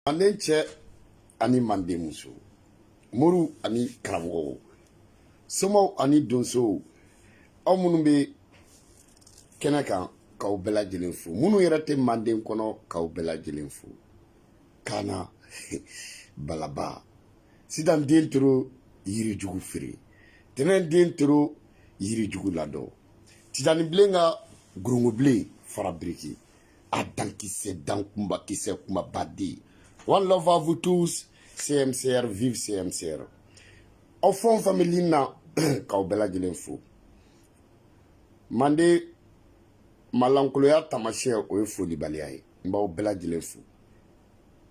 manden cɛ ani manden muso moriw ani karamɔgɔw somaw ani donsow aw minnu bɛ kɛnɛ kan k'aw bɛɛ lajɛlen fo minnu yɛrɛ tɛ manden kɔnɔ k'aw bɛɛ lajɛlen fo kana balaba sitan den toro yiri jugu feere tɛnɛn den toro yiri jugu ladɔn titanibilen ka gorongobilen fara biriki a dankisɛ dan kunba kisɛ kumaba den one love à vous tous CMCR vive CMCR aw fɛn o fɛn bɛ lin na k'aw bɛɛ lajɛlen fo manden malankoloya taamasiyɛn o ye folibaliya ye n b'aw bɛɛ lajɛlen fo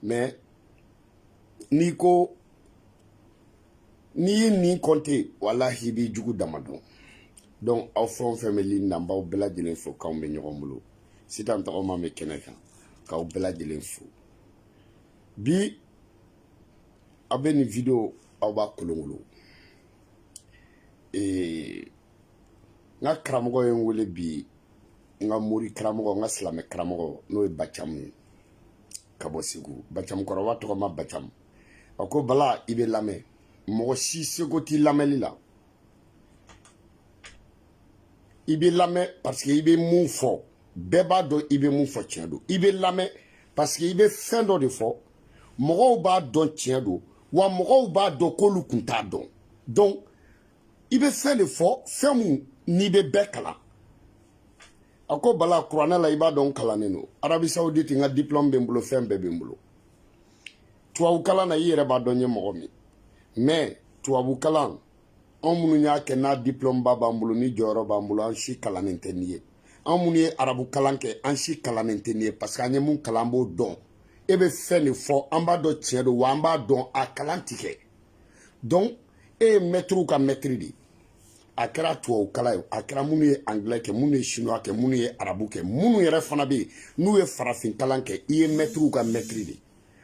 mais n'i ko n'i ye nin kɔnte walahi i b'i jugu dama dɔn donc aw fɛn o fɛn bɛ lin na n b'aw bɛɛ lajɛlen fo k'anw bɛ ɲɔgɔn bolo sitan tɔgɔma bɛ kɛnɛ kan k'aw bɛɛ lajɛlen fo bi aw bɛ nin video aw b'a kolonkolon ee n ka karamɔgɔ ye n wele bi n ka mori karamɔgɔ n ka silamɛ karamɔgɔ n'o ye bacamu ye ka bɔ segu bacamu kɔrɔba tɔgɔma bacamu a ko bala i bɛ lamɛn mɔgɔ si seko t'i lamɛnli la i bɛ lamɛn parce que i bɛ mun fɔ bɛɛ b'a dɔn i bɛ mun fɔ tiɲɛ don i bɛ lamɛn parce que i bɛ fɛn dɔ de fɔ mɔgɔw b'a dɔn tiɲɛ don wa mɔgɔw b'a dɔn k'olu kun t'a dɔn donc i bɛ fɛn de fɔ fɛn mun n'i bɛ bɛɛ kalan a ko bala kuranɛ la i b'a dɔn n kalannen don arabi sawuditi n ka diplôme bɛ n bolo fɛn bɛɛ bɛ n bolo tubabukalan na i yɛrɛ b'a dɔn n ye mɔgɔ min mais tubabukalan anw minnu y'a kɛ n'a diplôme ba b'an bolo ni jɔyɔrɔ b'an bolo an si kalannen tɛ nin ye anw minnu ye arabu kalan kɛ an si kalannen tɛ nin ye parce que an ye mun kalan an b'o dɔn e bɛ fɛn de fɔ an b'a dɔn tiɲɛ don wa an b'a dɔn a kalan ti kɛ donc e ye mɛtiriw ka mɛtiri de ye a kɛra tubabu kalan ye a kɛra minnu ye angilɛ kɛ minnu ye chinois kɛ minnu ye arabu kɛ minnu yɛrɛ fana bɛ yen n'u ye farafin kalan kɛ i ye mɛtiriw ka mɛtiri de ye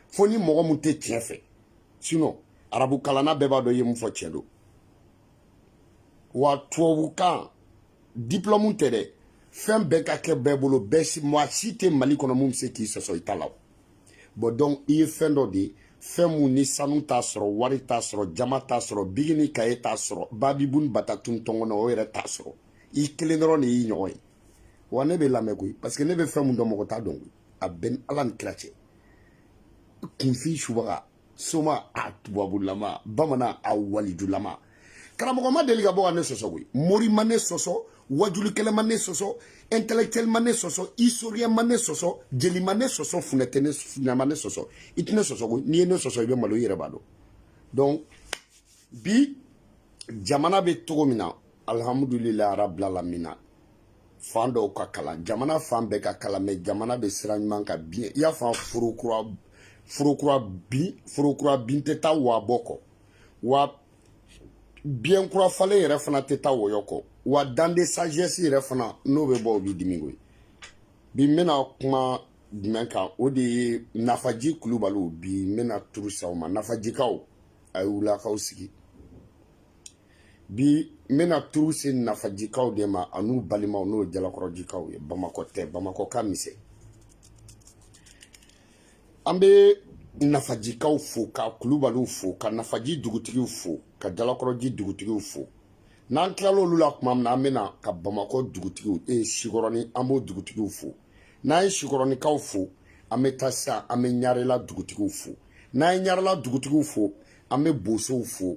fo ni mɔgɔ mun tɛ tiɲɛ fɛ sinon arabu kalanna bɛɛ b'a dɔn i ye mun fɔ tiɲɛ don wa tubabukan diplôme tɛ dɛ fɛn bɛɛ ka kɛ bɛɛ bolo bɛɛ si maa si tɛ mali kɔnɔ mun bɛ se k'i sɔsɔ i ta la bon donc i ye fɛn dɔ de ye fɛn mun ni sanu t'a sɔrɔ wari t'a sɔrɔ jaman t'a sɔrɔ biki ni kaye t'a sɔrɔ babibun batatun tɔngɔnɔ o yɛrɛ t'a sɔrɔ i kelen dɔrɔn de y'i ɲɔgɔn ye wa ne bɛ lamɛn koyi parce que ne bɛ fɛn mun dɔn mɔgɔ t'a dɔn koyi a bɛ n ni ala ni kira cɛ kunfin subaga soma a tubabulama bamanan a walijulama karamɔgɔ ma deli ka bɔ ka ne sɔsɔ koyi mori ma ne sɔsɔ wajulikɛla ma ne sɔsɔ intellectuel ma ne sɔsɔ historien ma ne sɔsɔ jeli ma ne sɔsɔ funɛ ma ne sɔsɔ i tɛ ne sɔsɔ koyi n'i ye ne sɔsɔ i bɛ malo i yɛrɛ b'a dɔn donc bi jamana bɛ cogo min na alihamudulilayi arabilalamina fan dɔw ka kalan jamana fan bɛɛ ka kalan mais jamana bɛ sira ɲuman kan bien i y'a fɔ foro kura bin tɛ taa wa bɔ kɔ wa biɲɛ kura falen yɛrɛ fana tɛ taa wɔyɔ kɔ wa dent de sagesse yɛrɛ fana n'o bɛ bɔ o b'i dimi koyi bi n bɛna kuma jumɛn kan o de ye nafaji kulubaliw bi n bɛna turu se o ma nafajikaw a ye wuli k'aw sigi bi n bɛna turu se nafajikaw de ma an'u balimaw n'o ye jalakɔrɔjikaw ye bamakɔ tɛ bamakɔ ka misɛn an bɛ nafajikaw fo ka kulubaliw fo ka nafaji dugutigiw fo ka jalakɔrɔji dugutigiw fo n'an tilala olu la tuma min na an bɛ na ka bamakɔ dugutigiw e eh, sikɔrɔni an b'o dugutigiw fo n'an ye sikɔrɔnikaw fo an bɛ taa sisan an bɛ ɲarela dugutigiw fo n'an ye ɲarela dugutigiw fo an bɛ bosow fo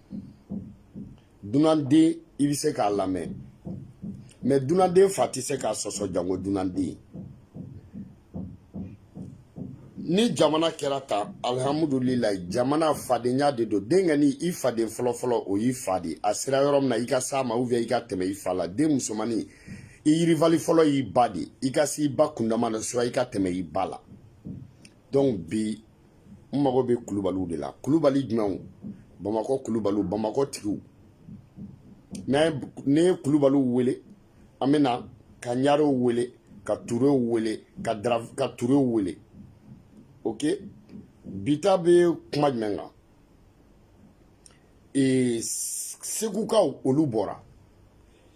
dunanden i bɛ se k'a lamɛn mais dunanden fa tɛ se k'a sɔsɔ janko dunanden ni jamana kɛra tan alihamudulila jamana fadenya de don denkɛnin i faden fɔlɔfɔlɔ o y'i fa de a sera yɔrɔ min na i ka s'a ma ou bien i ka tɛmɛ i fa la den musomannin i rivale fɔlɔ y'i ba de i ka se i ba kundama na soit i ka tɛmɛ i ba la donc bi n mago bɛ kulubaliw de la kulubali jumɛnw bamakɔ kulubaliw bamakɔ tigiw ne ye kulubaliw wele an bɛ na ka ɲarew wele ka turew wele ka dara ka turew wele ok bi ta bɛ kuma jumɛn kan ee segukaw olu bɔra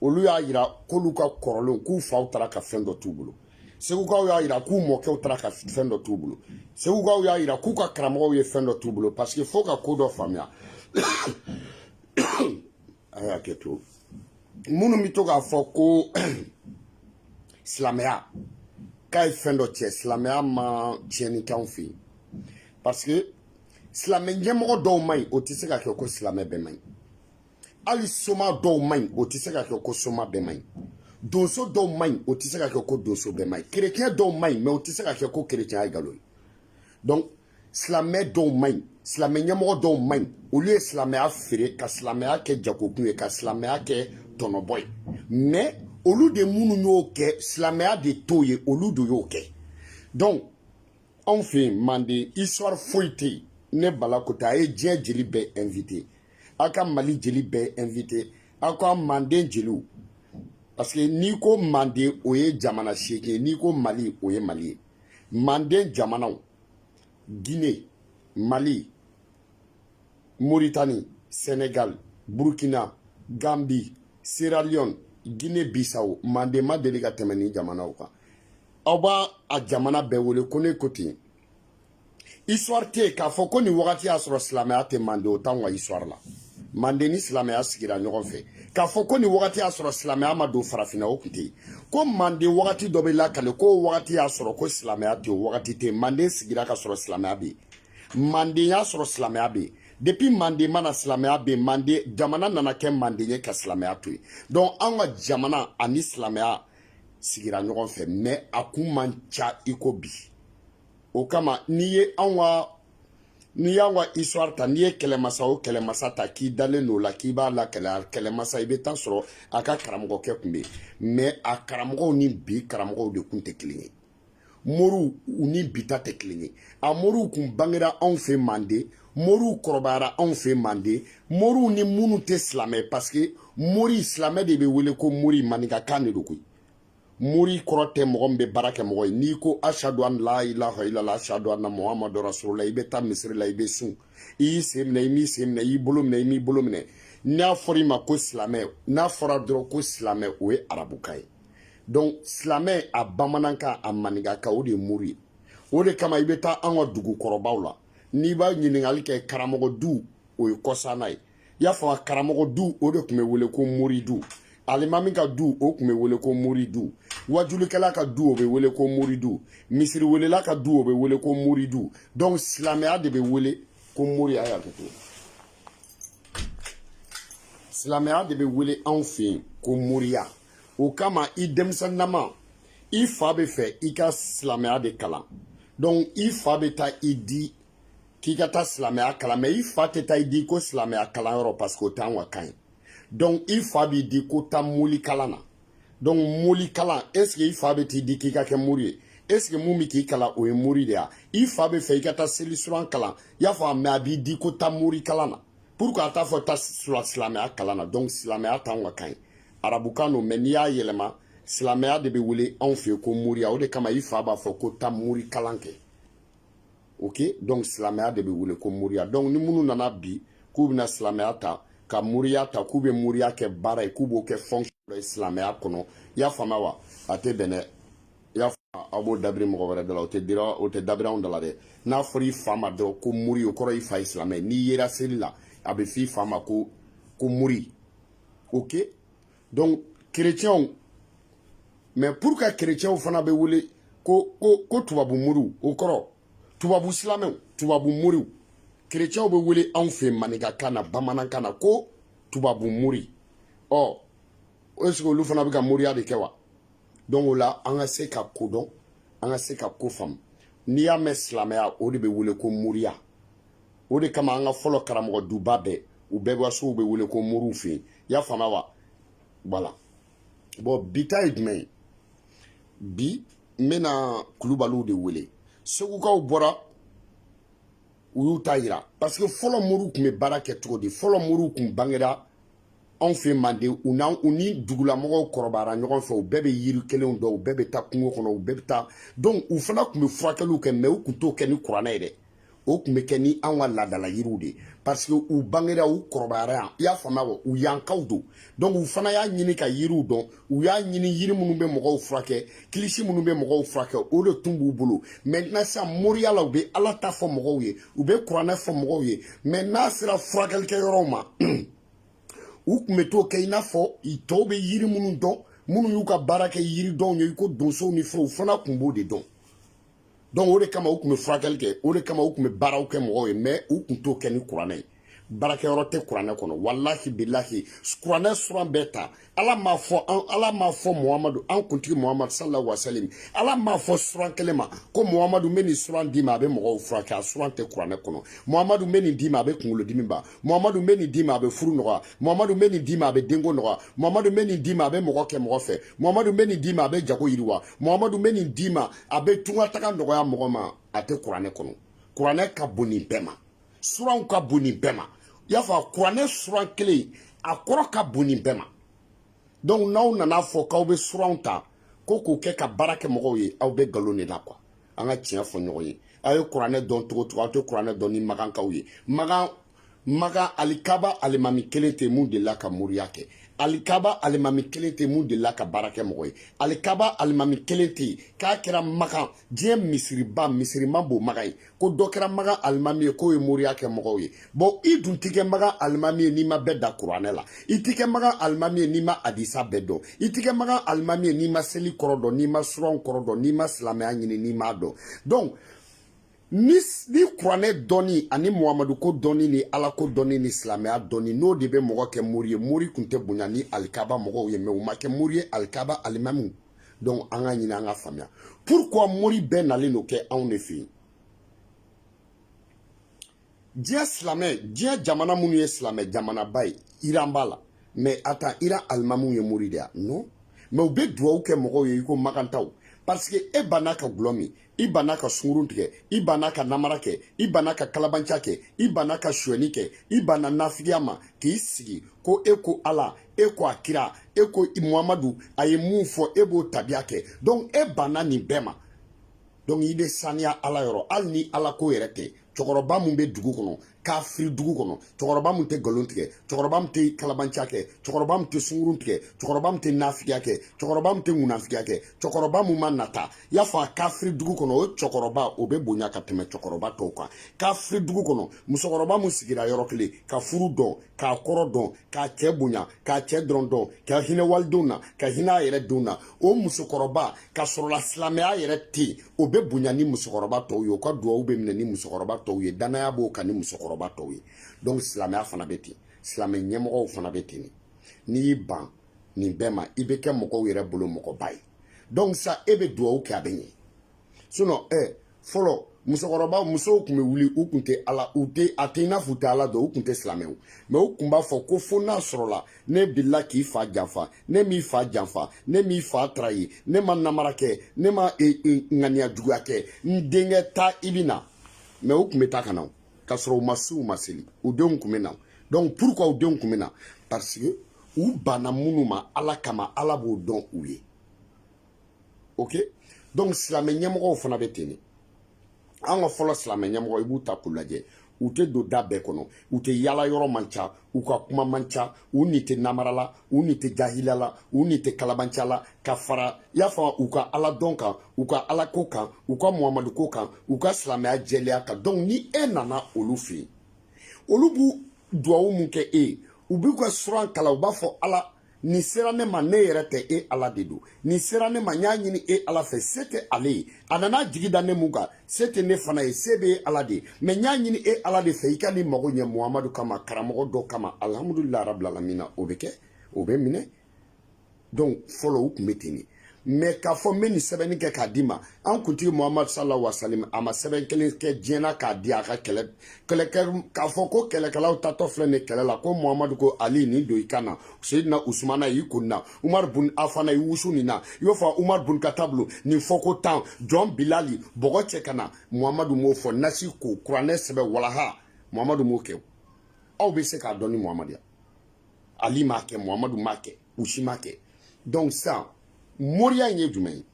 olu y'a yira k'olu ka kɔrɔlenw k'u faw taara ka fɛn dɔ t'u bolo segukaw y'a yira k'u mɔkɛw taara ka fɛn dɔ t'u bolo segukaw y'a yira k'u ka karamɔgɔw ye fɛn dɔ t'u bolo parce que fo ka ko dɔ faamuya a y'a kɛ to minnu bɛ to k'a fɔ ko silamɛya k'a ye fɛn dɔ tiɲɛ silamɛya ma tiɲɛni k'anw fɛ yen parce que silamɛ ɲɛmɔgɔ dɔw man ɲi o tɛ se ka kɛ ko silamɛ bɛɛ man ɲi hali soma dɔw man ɲi o tɛ se ka kɛ ko soma bɛɛ man ɲi donso dɔw man ɲi o tɛ se ka kɛ ko donso bɛɛ man ɲi kerecɛn dɔw man ɲi mais o tɛ se ka kɛ ko kerecɛnya ye nkalon ye donc silamɛ dɔw man ɲi silamɛ ɲɛmɔgɔ dɔw man ɲi olu ye silamɛya feere ka silamɛya kɛ jagokun ye ka silamɛya kɛ tɔnɔbɔ ye mais olu de minnu y'o kɛ silamɛya de t'o ye olu de y'o kɛ donc anw fɛ yen manden histoire foyi tɛ yen ne bala ko ten a ye diɲɛ jeli bɛɛ invité aw ka mali jeli bɛɛ invité aw ka manden jeliw parce que n'i ko manden o ye jamana seegin ye n'i ko mali o ye mali ye manden jamanaw guinée mali mauritanie sénégal burkina gambie sierra leone guinée bissau manden ma deli ka tɛmɛ nin jamanaw kan aw b'a a jamana bɛɛ wele ko ne ko ten histoire tɛ yen k'a fɔ ko nin wagati y'a sɔrɔ silamɛya tɛ mande o t'anw ka histoire la mande ni silamɛya sigira ɲɔgɔn fɛ k'a fɔ ko nin wagati y'a sɔrɔ silamɛya ma don farafinna o tun tɛ yen ko mande wagati dɔ bɛ lakali ko wagati y'a sɔrɔ ko silamɛya tɛ yen wagati tɛ yen mande sigira ka sɔrɔ silamɛya bɛ yen mande y'a sɔrɔ silamɛya bɛ yen depuis mande ma na silamɛya bɛ yen mande jamana nana kɛ mande ye ka silamɛya to yen donc anw ka jamana ani silamɛya sigira ɲɔgɔn fɛ mais a kun man ca i ko bi o kama n'i ye anw ka n'i y'an ka histoire ta n'i ye kɛlɛmasa o kɛlɛmasa ta k'i dalen don o la k'i b'a lakali a kɛlɛmasa i bɛ taa sɔrɔ a ka karamɔgɔkɛ tun bɛ yen mais a karamɔgɔw ni bi karamɔgɔw de tun tɛ kelen ye moriw u ni bi ta tɛ kelen ye a moriw tun bangera anw fɛ manden moriw kɔrɔbayara anw fɛ manden moriw ni minnu tɛ silamɛ parce que mori silamɛ de bɛ wele ko mori maninkakan de don koyi mori kɔrɔ tɛ mɔgɔ min bɛ baara kɛ mɔgɔ ye n'i ko ashadu an la ilaha ilala ashadu anna muhamadu rasulula i bɛ taa misiri la i bɛ sun i y'i sen minɛ i m'i sen minɛ i y'i bolo minɛ i m'i bolo minɛ n'a fɔra i ma ko silamɛ n'a fɔra dɔrɔn ko silamɛ o ye arabukan ye donc silamɛ a bamanankan a maninkakan o de ye mori ye o de kama i bɛ taa an ka dugukɔrɔbaw la n'i b'a ɲininkali kɛ karamɔgɔ du o ye kɔsa in na ye i y'a fɔ karamɔgɔ du o de tun bɛ wele ko mori du alimami ka du o tun bɛ wele ko mori du wajulikɛla ka du o bɛ wele ko mori du misiriwelela ka du o bɛ wele ko mori du donc silamɛya de bɛ wele ko mori a y'a kɛ ten silamɛya de bɛ wele anw fɛ yen ko moriya o kama i denmisɛnninama i fa bɛ fɛ i ka silamɛya de kalan donc i fa bɛ taa i di k'i ka taa silamɛya kalan mais i fa tɛ taa i di ko silamɛya kalanyɔrɔ parce que o t'an ka kan ye donc i fa b'i di ko taa moli kalan na donc moli kalan est ce que i fa bɛ t'i di k'i ka kɛ mori ye est ce que min bɛ k'i kalan o ye mori de ye i fa b'a fɛ i ka taa seli suran kalan i y'a fɔ mais a b'i di ko taa mori kalan na pourquoi a t'a fɔ taa silamɛya kalan na donc silamɛya t'an ka kan ye arabukan don mais n'i y'a yɛlɛma silamɛya de bɛ wele anw fɛ yen ko moriya o de kama i fa b'a fɔ ko taa mori kalan kɛ ok donc silamɛya de bɛ wele ko moriya donc ni minnu nana bi k'u bɛna silamɛya ta ka moriya ta k'u bɛ moriya kɛ baara ye k'u b'o kɛ fonction dɔ ye silamɛya kɔnɔ i y'a faamuya wa a tɛ bɛn dɛ i y'a faamuya aw b'o dabiri mɔgɔ wɛrɛ da la o tɛ dira o tɛ dabiri anw da la dɛ n'a fɔra i fa ma dɔrɔn ko mori o kɔrɔ i fa ye silamɛ ye n'i yera seli la a bɛ f'i fa ma ko ko mori ok donc chrétiens mais pourquoi chrétiens fana bɛ wele ko ko ko tubabu moriw o kɔrɔ tubabu silamɛw tubabu moriw chrétiens bɛ wele anw fɛ maninkakan na bamanankan na ko tubabu mori ɔ est ce que olu fana bɛ ka moriya de kɛ wa donc o la an ka se ka ko dɔn an ka se ka ko faamu n'i y'a mɛn silamɛya o de bɛ wele ko moriya o de kama an ka fɔlɔ karamɔgɔ duba bɛɛ u bɛɛ ka sow bɛ wele ko moriw fɛ yen i y'a faamuya wa voilà bon bi ta ye jumɛn ye bi n bɛna kulubaliw de wele segukaw bɔra u y'u ta yira parce que fɔlɔ moriw tun bɛ baara kɛ cogo di fɔlɔ moriw tun bangera anw fɛ manden u n'an u ni dugulamɔgɔw kɔrɔbayara ɲɔgɔn fɛ u bɛɛ bɛ yiri kelenw dɔn u bɛɛ bɛ taa kungo kɔnɔ u bɛɛ bɛ taa donc u fana tun bɛ furakɛliw kɛ mais u tun t'o kɛ ni kuranɛ ye dɛ o tun bɛ kɛ ni anw ka laadala yiriw de ye parce que u bangera u kɔrɔbayara yan i y'a faamuya wa u yankaw don donc u fana y'a ɲini ka yiriw dɔn u y'a ɲini yiri minnu bɛ mɔgɔw furakɛ kilisi minnu bɛ mɔgɔw furakɛ o de tun b'u bolo maintenant sisan moriya la u bɛ ala ta fɔ mɔgɔw ye u bɛ kuranɛ fɔ mɔgɔw ye mais n'a sera furakɛlikɛyɔrɔw ma u tun bɛ t'o kɛ i n'a fɔ tɔw bɛ yiri minnu dɔn minnu y'u ka baara kɛ yiridɔnw ye i ko donsow ni fɛnw u fana tun b'o de dɔn donc o de kama u tun bɛ furakɛli kɛ o de kama u tun bɛ baaraw kɛ mɔgɔw ye mais u tun t'o kɛ ni kuranɛ ye baarakɛyɔrɔ tɛ kuranɛ kɔnɔ walahi bilahi kuranɛ suran bɛɛ ta ala m'a fɔ an ala m'a fɔ muhamadu an kuntigi muhamadu sallallahu alaihi wa sallam ala m'a fɔ suran kelen ma ko muhamadu n bɛ nin suran d'i ma a bɛ mɔgɔw furakɛ a suran tɛ kuranɛ kɔnɔ muhamadu n bɛ nin d'i ma a bɛ kunkolodimi ban muhamadu n bɛ nin d'i ma a bɛ furu nɔgɔya muhamadu n bɛ nin d'i ma a bɛ denko nɔgɔya muhamadu n bɛ nin d'i ma a bɛ mɔgɔ kɛ mɔgɔ fɛ muhamadu n bɛ nin d'i ma a bɛ jago yiriwa muhamadu n bɛ nin d'i ma a bɛ tunkataga nɔgɔya mɔgɔ ma a tɛ kuranɛ kɔnɔ kuranɛ ka bon nin bɛɛ ma suranw ka bon nin bɛɛ ma i y'a fɔ kuranɛ suran kelen a kɔrɔ ka bon nin bɛɛ ma donc n'aw nana fɔ k'aw bɛ suranw ta ko k'o kɛ ka baara kɛ mɔgɔw ye aw bɛ nkalon de la quoi an ka tiɲɛ fɔ ɲɔgɔn ye aw ye kuranɛ dɔn cogo cogo aw tɛ kuranɛ dɔn ni magankaw ye magan Maga alikaba alimami kelen tɛ mun delila ka moriya kɛ alikaba alimami kelen tɛ mun delila ka baara kɛ mɔgɔ ye alikaba alimami kelen tɛ k'a kɛra makan diɲɛ misiriba misiri man bon maga ye ko dɔ kɛra makan alimami ye k'o ye moriya kɛ mɔgɔw ye bon i dun ti kɛ makan alimami ye n'i ma bɛɛ da kuranɛ la i ti kɛ makan alimami ye n'i ma hadisa bɛɛ dɔn i ti kɛ makan alimami ye n'i ma seli kɔrɔ dɔn n'i ma suranw kɔrɔ dɔn n'i ma silamɛya ɲini n'i m'a dɔn donc ni kuranɛ dɔnni ani muhamadu ko dɔnni ni ala ko dɔnni ni silamɛya dɔnni n'o de bɛ mɔgɔ kɛ mori ye mori tun tɛ bonya ni alikaba mɔgɔw ye mais u ma kɛ mori ye alikaba alimamiw donc an k'a ɲini an k'a faamuya pourquoi mori bɛɛ nalen don kɛ anw de fɛ yen diɲɛ silamɛ diɲɛ jamana minnu ye silamɛ jamanaba ye iran b'a la mais attends iran alimamiw ye mori de ye wa non mais u bɛ duwawu kɛ mɔgɔw ye i ko makantaw parce que e banna ka gulɔ min i banna ka sungurun tigɛ i banna ka namara kɛ i banna ka kalabanciya kɛ i banna ka suɲɛni kɛ i banna nafigiya ma k'i sigi ko e ko ala e ko a kira e ko muhamadu a ye mun fɔ e b'o tabiya kɛ donc e banna nin bɛɛ ma donc i bɛ saniya ala yɔrɔ hali ni ala ko yɛrɛ tɛ cɛkɔrɔba min bɛ dugu kɔnɔ kafiri dugu kɔnɔ cɛkɔrɔba min tɛ nkalon tigɛ cɛkɔrɔba min tɛ kalabanciya kɛ cɛkɔrɔba min tɛ sungurun tigɛ cɛkɔrɔba min tɛ nafigiya kɛ cɛkɔrɔba min tɛ ŋunafigiya kɛ cɛkɔrɔba min ma nata i y'a fɔ kafiri dugu kɔnɔ o cɛkɔrɔba o bɛ bonya ka tɛmɛ cɛkɔrɔba tɔw kan kafiri dugu kɔnɔ musokɔrɔba min sigira yɔrɔ kelen ka furu dɔn k'a kɔrɔ dɔn k'a cɛ bonya k'a cɛ dɔrɔn dɔn ka hinɛ walidenw na ka hinɛ a yɛrɛ denw na o musokɔrɔba ka sɔrɔla silamɛya yɛrɛ tɛ yen o bɛ bonya ni musokɔrɔba tɔw ye o ka duwawu bɛ minɛ ni musokɔrɔba tɔw ye dannaya b'o kan ni musokɔrɔba tɔw ye donc silamɛya fana bɛ ten silamɛ ɲɛmɔgɔw fana bɛ ten n'i y'i ban nin bɛɛ ma i bɛ kɛ mɔgɔw yɛrɛ bolo mɔgɔba ye donc sa e bɛ duwawu kɛ a bɛ ɲɛ sinon ɛ eh, fɔlɔ musokɔrɔba musow tun bɛ wuli u tun tɛ ala u tɛ a tɛ i n'a fɔ u tɛ ala dɔn u tun tɛ silamɛw mais u tun b'a fɔ ko fo n'a sɔrɔla ne delila k'i fa janfa ne m'i fa janfa ne m'i fa trahi ne ma namara kɛ ne ma e, e, ŋaniya juguya kɛ n denkɛ taa i bɛ na mais u tun bɛ taa ka na k'a sɔrɔ u ma se u ma seli u denw tun bɛ na donc pourquoi u denw tun bɛ na parce que u banna minnu ma ala kama ala b'o dɔn u ye ok donc silamɛ ɲɛmɔgɔw fana bɛ ten de an ka fɔlɔ silamɛ ɲɛmɔgɔ i b'u ta k'u lajɛ u tɛ don da bɛɛ kɔnɔ u tɛ yala yɔrɔ man ca u ka kuma man ca u ni tɛ namara la u ni tɛ jahila la u ni tɛ kalabanca la ka fara i y'a fɔ u ka ala dɔn kan u ka ala ko kan u ka muhamadu ko kan u ka silamɛya jɛlenya kan donc ni e nana olu fɛ yen olu b'u duwawu mun kɛ e ye u b'u ka suran kalan u b'a fɔ ala nin sera ne ma ne yɛrɛ tɛ e ala de don nin sera ne ma n y'a ɲini e ala fɛ se tɛ ale ye a nana jigi da ne mun kan se tɛ ne fana ye se bɛ e ala de ye mais n y'a ɲini e ala de fɛ i ka nin mago ɲɛ muhamadu kama karamɔgɔ dɔ kama alihamudulilayi rabilalamina o bɛ kɛ o bɛ minɛ donc fɔlɔ u tun bɛ ten de mais k'a fɔ n bɛ nin sɛbɛnni kɛ k'a d'i ma an kuntigi muhamadu sallallahu alaihi wasallam a ma sɛbɛn kelen kɛ diɲɛ na k'a di a ka kɛlɛ kɛlɛkɛ k'a fɔ ko kɛlɛkɛlaw taatɔ filɛ nin kɛlɛ la ko muhamadu ko ali nin don i kan na seyidina usumana y'i kun na umaru bun afana i wusu nin na i b'a fɔ umaru bun katabu nin fɔ ko tan jɔn bilali bɔgɔ cɛ ka na muhamadu m'o fɔ nasi ko kuranɛ sɛbɛn walaha muhamadu m'o kɛ aw bɛ se k'a dɔn ni muhamadu ya ali m'a kɛ muhamadu m'a kɛ u si m'a kɛ donc sisan moriya in ye jumɛn ye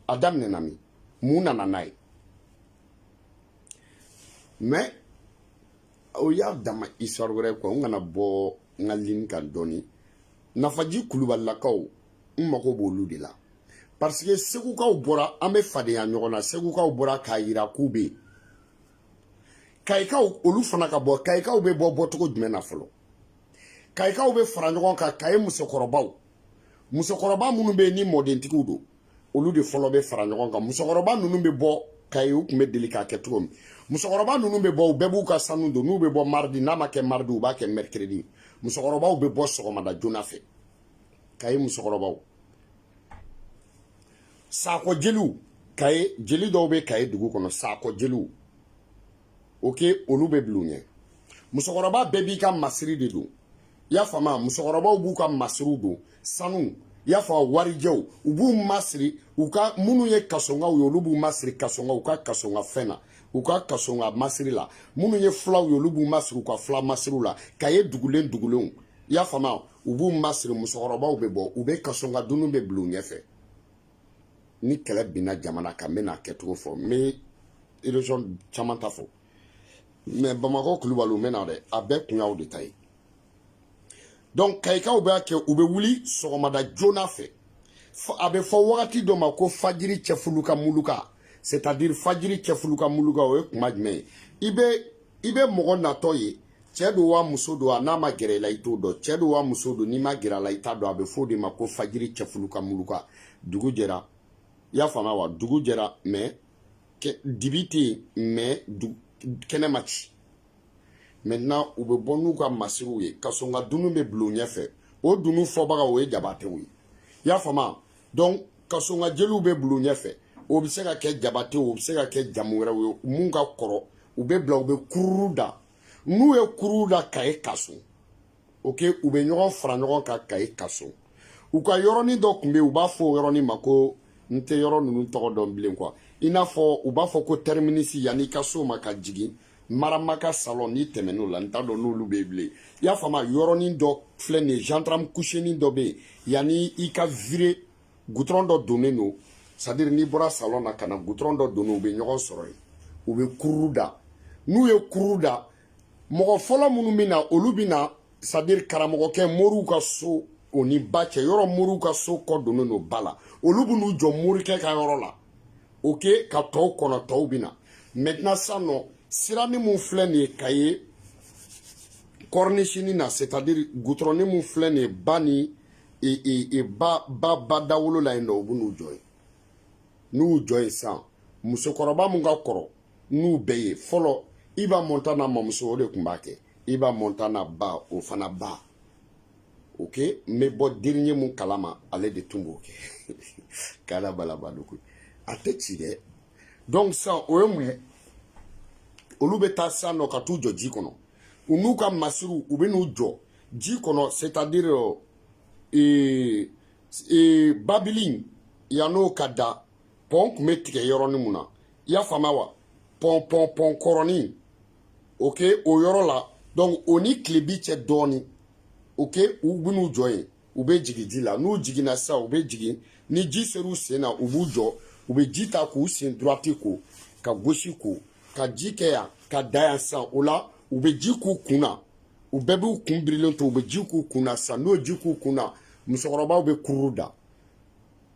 a daminɛna min mun nana n'a ye mais o y'a dama histoire wɛrɛ quoi n kana bɔ n ka ligne kan dɔɔni nafaji kulubalilakaw n mago b'olu de la parce que segukaw bɔra an bɛ fadenya ɲɔgɔn na segukaw bɔra k'a yira k'u bɛ yen kayikaw olu fana ka bɔ kayikaw bɛ bɔ bɔcogo jumɛn na fɔlɔ kayikaw bɛ fara ɲɔgɔn kan kaye musokɔrɔbaw musokɔrɔba minnu bɛ yen ni mɔdentigiw don olu de fɔlɔ bɛ fara ɲɔgɔn kan musokɔrɔba ninnu bɛ bɔ kaye u tun bɛ deli k'a kɛ cogo min musokɔrɔba ninnu bɛ bɔ u bɛɛ b'u ka sanu don n'u bɛ bɔ mardi n'a ma kɛ mardi u b'a kɛ mercredi musokɔrɔbaw bɛ bɔ sɔgɔmada joona fɛ kaye musokɔrɔbaw sakɔ jeliw kaye jeli dɔw bɛ kaye dugu kɔnɔ sakɔ jeliw ok olu bɛ bila u ɲɛ musokɔrɔba bɛɛ b'i ka masiri de don i y'a faamu a musokɔrɔbaw b'u ka masiriw don sanu i y'a fɔ warijɛw u b'u masiri u ka minnu ye kasonkaw ye olu b'u masiri kasonka u ka kasonka fɛn na u ka kasonka masiri la minnu ye fulaw ye olu b'u masiri u ka fula masiriw la kaye dugulen dugulenw i y'a faamu u b'u masiri musokɔrɔbaw bɛ bɔ u bɛ kasonka dunun bɛ bila u ɲɛfɛ ni kɛlɛ binna jamana kan n bɛna a kɛcogo fɔ n bɛ région caman ta fɔ mais bamakɔ kulubaliw n bɛna dɛ a bɛɛ kun y'aw de ta ye donc kayikaw b'a kɛ u bɛ wuli sɔgɔmada joona fɛ a bɛ fɔ wagati dɔ ma ko fajiri cɛfulu ka muluka c'est à dire fajiri cɛfulu ka muluka o ye kuma jumɛn ye i bɛ i bɛ mɔgɔ natɔ ye cɛ don wa muso don a n'a ma gɛrɛ i la i t'o dɔn cɛ don wa muso don n'i ma gɛrɛ a la i t'a dɔn a bɛ f'o de ma ko fajiri cɛfulu ka muluka dugu jɛra i y'a faamuya wa dugu jɛra mais dibi tɛ yen mais kɛnɛ ma ci maintenant u bɛ bɔ n'u ka masiriw ye ka sɔn ka dunu bɛ bila u ɲɛfɛ o dunu fɔbaga o ye jabatew ye i y'a faamuya donc ka sɔn ka jeliw bɛ bila u ɲɛfɛ o bɛ se ka kɛ jabatew o bɛ se ka kɛ jamu wɛrɛw ye mun ka kɔrɔ u bɛ bila u bɛ kururu da n'u ye kururu da kaye kaso ok u bɛ ɲɔgɔn fara ɲɔgɔn kan kaye kaso u ka yɔrɔnin dɔ tun bɛ yen u b'a fɔ o yɔrɔnin ma ko n tɛ yɔrɔ ninnu tɔgɔ dɔn bilen quoi i n'a fɔ u b'a fɔ ko terminus yanni i ka s'o ma ka jigin maramaka salon n'i tɛmɛn'o la n t'a dɔn n'olu bɛ yen bilen i y'a faamu yɔrɔnin dɔ filɛ nin ye gendarme couchenin dɔ bɛ yen yanni i ka vire goudron dɔ donnen don c'est à dire n'i bɔra salon na ka na goudron dɔ donnen u bɛ ɲɔgɔn sɔrɔ yen u bɛ kururu da n'u ye kururu da mɔgɔ fɔlɔ minnu bɛ na olu bɛ na c'est à dire karamɔgɔkɛ moriw ka so o ni ba cɛ yɔrɔ moriw ka so kɔ donnen don ba la olu bɛ n'u jɔ morikɛ ka yɔrɔ la ok ka tɔw kɔnɔ tɔw bɛ na maintenant sisan nɔ siranin mun filɛ nin ye kaye cornichenin na c'est à dire goudronnin mun filɛ nin ye ba ni ba ba ba dawolo la yen nɔ u bɛ n'u jɔ yen n'u jɔ yen sisan musokɔrɔba mun ka kɔrɔ n'u bɛɛ ye fɔlɔ iba montana mamuso o de tun b'a kɛ iba montana ba o fana ba ok n bɛ bɔ dernier mun kalama ale de tun b'o kɛ k'ala balaba don koyi a tɛ ci dɛ donc sisan o ye mun ye olu bɛ taa sisan nɔ ka t'u jɔ ji kɔnɔ u n'u ka masiriw u bɛ n'u jɔ ji kɔnɔ c'est à dire ee ee babilin yann'o ka da pɔn kun bɛ tigɛ yɔrɔnin mun na i y'a faamuya wa pɔn pɔn pɔn kɔrɔnin ok o yɔrɔ la donc o ni tilebi cɛ dɔɔnin ok u bɛ n'u jɔ yen u bɛ jigin ji la n'u jiginna sisan u bɛ jigin ni ji ser'u sen na u b'u jɔ u bɛ ji ta k'u sen droite ko ka gauche ko ka ji kɛ yan ka da yan sisan o la u bɛ ji k'u kun na u bɛɛ b'u kun birilen to u bɛ ji k'u kun na sisan n'u ye ji k'u kun na musokɔrɔbaw bɛ kururu da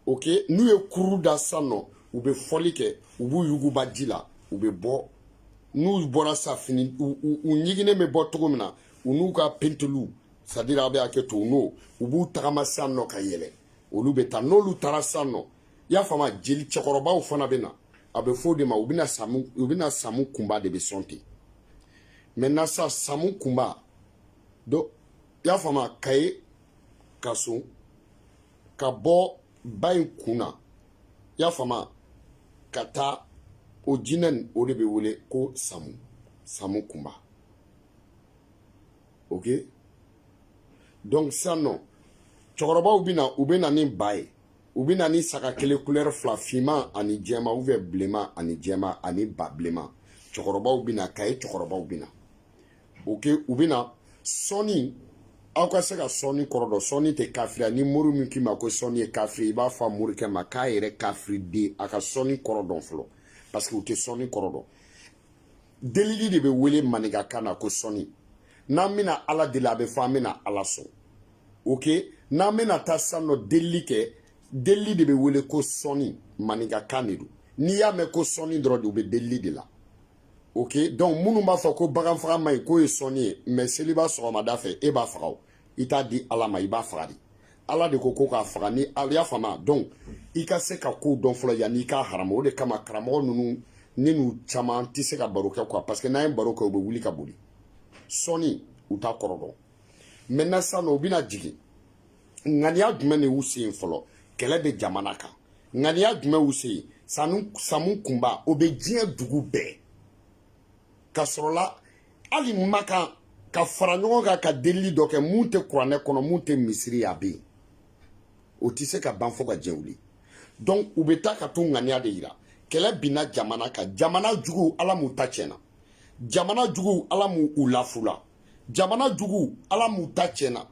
ok n'u ye kururu da sisan nɔ u bɛ fɔli kɛ u b'u yuguba ji la u bɛ bɔ n'u bɔra sa fini u ɲiginnen bɛ bɔ cogo min na u n'u ka penteliw c'est à dire a bɛ hakɛ to u n'o u b'u tagama sisan nɔ ka yɛlɛ olu bɛ taa n'olu taara sisan nɔ i y'a faamu jeli cɛkɔrɔbaw fana bɛ na a bɛ fɔ o de ma u bɛna samu kunba de bɛ sɔn ten maintenant sa samu kunba donc i y'a faamu kaye kaso ka bɔ ba in kun na i y'a faamu ka taa o jinɛ nin o de bɛ wele ko samu samu kunba ok donc sisan nɔ cɛkɔrɔbaw bɛ na u bɛ na ni ba ye u bɛ na ni saga kelen kulɛri fila finman ani jɛma ou bien bilenman ani jɛma ani ba bilenman cɛkɔrɔbaw bɛ na kaye cɛkɔrɔbaw bɛ na ok u bɛ na sɔnni aw ka se ka sɔnni kɔrɔ dɔn sɔnni tɛ kafiriya ni mori min k'i ma ko sɔnni ye kafiri i b'a fɔ a morikɛ ma k'a yɛrɛ kafiri den a ka sɔnni kɔrɔ dɔn fɔlɔ parce que u tɛ sɔnni kɔrɔ dɔn delili de bɛ wele maninkakan na ko sɔnni n'an bɛna ala deli a bɛ fɔ an bɛna ala sɔn ok n'an bɛna taa san nɔ delili kɛ delili de bɛ wele ko sɔnni maninkakan de don n'i y'a mɛn ko sɔnni dɔrɔn de u bɛ delili de la ok donc minnu b'a fɔ ko bagan faga man ɲi k'o ye sɔnni ye mais seliba sɔgɔmada fɛ e b'a faga o i t'a di ala ma i b'a faga de ala de ko ko k'a faga ni ala y'a faamuya donc i ka se ka kow dɔn fɔlɔ yanni i k'a harama o de kama karamɔgɔ ninnu ne n'u caman tɛ se ka baro kɛ quoi parce que n'an ye baro kɛ u bɛ wuli ka boli sɔnni u t'a kɔrɔ dɔn maintenant sisan nɔ u bɛna jigin ŋaniya jumɛn de y'u se yen fɔlɔ kɛlɛ bɛ jamana kan ŋaniya jumɛn y'u se yen samu kunba o bɛ diɲɛ dugu bɛɛ ka sɔrɔla hali makan ka fara ɲɔgɔn kan ka delili dɔ kɛ mun tɛ kuranɛ kɔnɔ mun tɛ misiri ye a bɛ yen o tɛ se ka ban fo ka diɲɛ wuli donc u bɛ taa ka t'u ŋaniya de yira kɛlɛ binna jamana kan jamana juguw ala m'u ta tiɲɛna jamana juguw ala m'u u lafula jamana jugu ala m'u ta tiɲɛna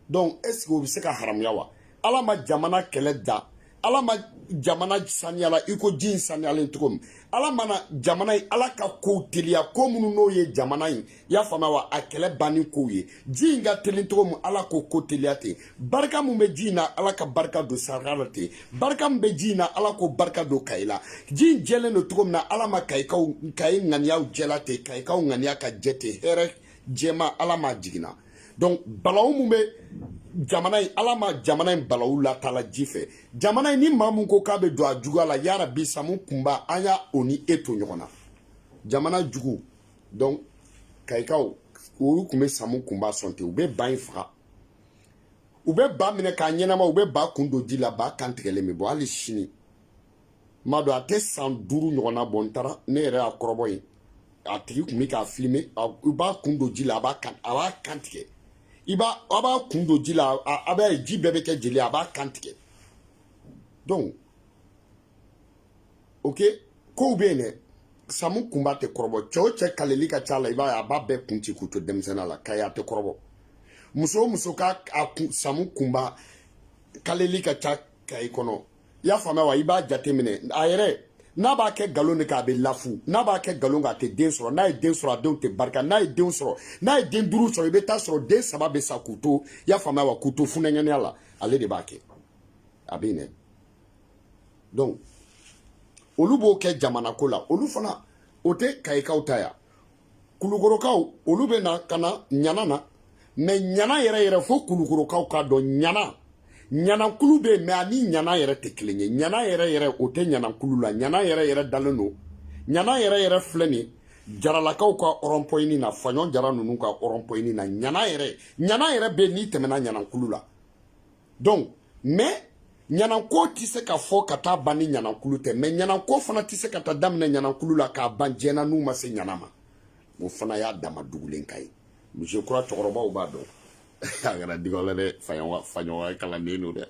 donc est ce que o bɛ se ka haramuya wa ala ma jamana kɛlɛ da ala ma jamana saniyala i ko ji in saniyalen cogo min ala mana jamana in ala ka kow teliya ko minnu n'o ye jamana in i y'a faamuya wa a kɛlɛ banni kow ye ji in ka teli cogo min ala k'o ko teliya ten barika mun bɛ ji in na ala ka barika don saraka la ten barika min bɛ ji in na ala k'o barika don kayi la ji in jɛlen don cogo min na ala ma kayikaw kayi ŋaniyaw jɛla ten kayikaw ŋaniya ka jɛ ten hɛrɛ jɛma ala ma jiginna donc balawu mun bɛ jamana in ala ma jamana in balawu lataala ji fɛ jamana in ni maa mun ko k'a bɛ don a juguya la ya rabi samu kunba an ye o ni e to ɲɔgɔn na jamana jugu donc kayikaw olu tun bɛ samu kunba sɔn ten u bɛ ba in faga u bɛ ba minɛ k'a ɲɛnama u bɛ ba kun don ji la ba kan tigɛlen bɛ bɔ hali sini ma dɔn a tɛ san duuru ɲɔgɔnna bɔ n taara ne yɛrɛ y'a kɔrɔbɔ ye a tigi kun bɛ k'a filime i b'a kun don ji la a b'a kan a b'a kan tigɛ i b'a a b'a kun don ji la a b'a ye ji bɛɛ bɛ kɛ jeli a b'a kan tigɛ donc ok kow bɛ yen dɛ samu kunba tɛ kɔrɔbɔ cɛ o cɛ kaleli ka c'a la i b'a ye a b'a bɛɛ kun ci k'u to denmisɛnninya la kayi a tɛ kɔrɔbɔ muso o muso ka a kun samu kunba kaleli ka ca kayi kɔnɔ i y'a faamuya wa i b'a jateminɛ a yɛrɛ n'a b'a kɛ nkalon de k'a bɛ lafu n'a b'a kɛ nkalon k'a tɛ den sɔrɔ n'a ye den sɔrɔ a denw tɛ barika n'a ye denw sɔrɔ n'a ye den duuru sɔrɔ i bɛ t'a sɔrɔ den saba bɛ sa k'u to i y'a faamuya wa k'u to funankɛninya la ale de b'a kɛ a bɛ ɲinɛ donc olu b'o kɛ jamanako la olu fana o tɛ kayikaw ta ya kulukorokaw olu bɛ na ka na ɲana na mais ɲana yɛrɛ yɛrɛ fo kulukorokaw k'a dɔn ɲana ɲanankulu bɛ yen mais ani ɲana yɛrɛ tɛ kelen ye ɲana yɛrɛ yɛrɛ o tɛ ɲanankulu la ɲana yɛrɛ yɛrɛ dalen don ɲana yɛrɛ yɛrɛ filɛ nin jaralakaw ka ɔrɔnpɔyini na faɲɔn jara ninnu ka ɔrɔnpɔyini na ɲana yɛrɛ ɲana yɛrɛ bɛ n'i tɛmɛna ɲanankulu la donc mais ɲananko tɛ se ka fɔ ka taa ban ni ɲanankulu tɛ mais ɲananko fana tɛ se ka taa daminɛ ɲanankulu la k'a ban diɲɛ na n'u ma se ɲana ma o fana y'a dama dugulen ka ye moi je crois cɛkɔrɔbaw b'a dɔn a kɛra digaw la dɛ faɲɔgɔnya kalanden don dɛ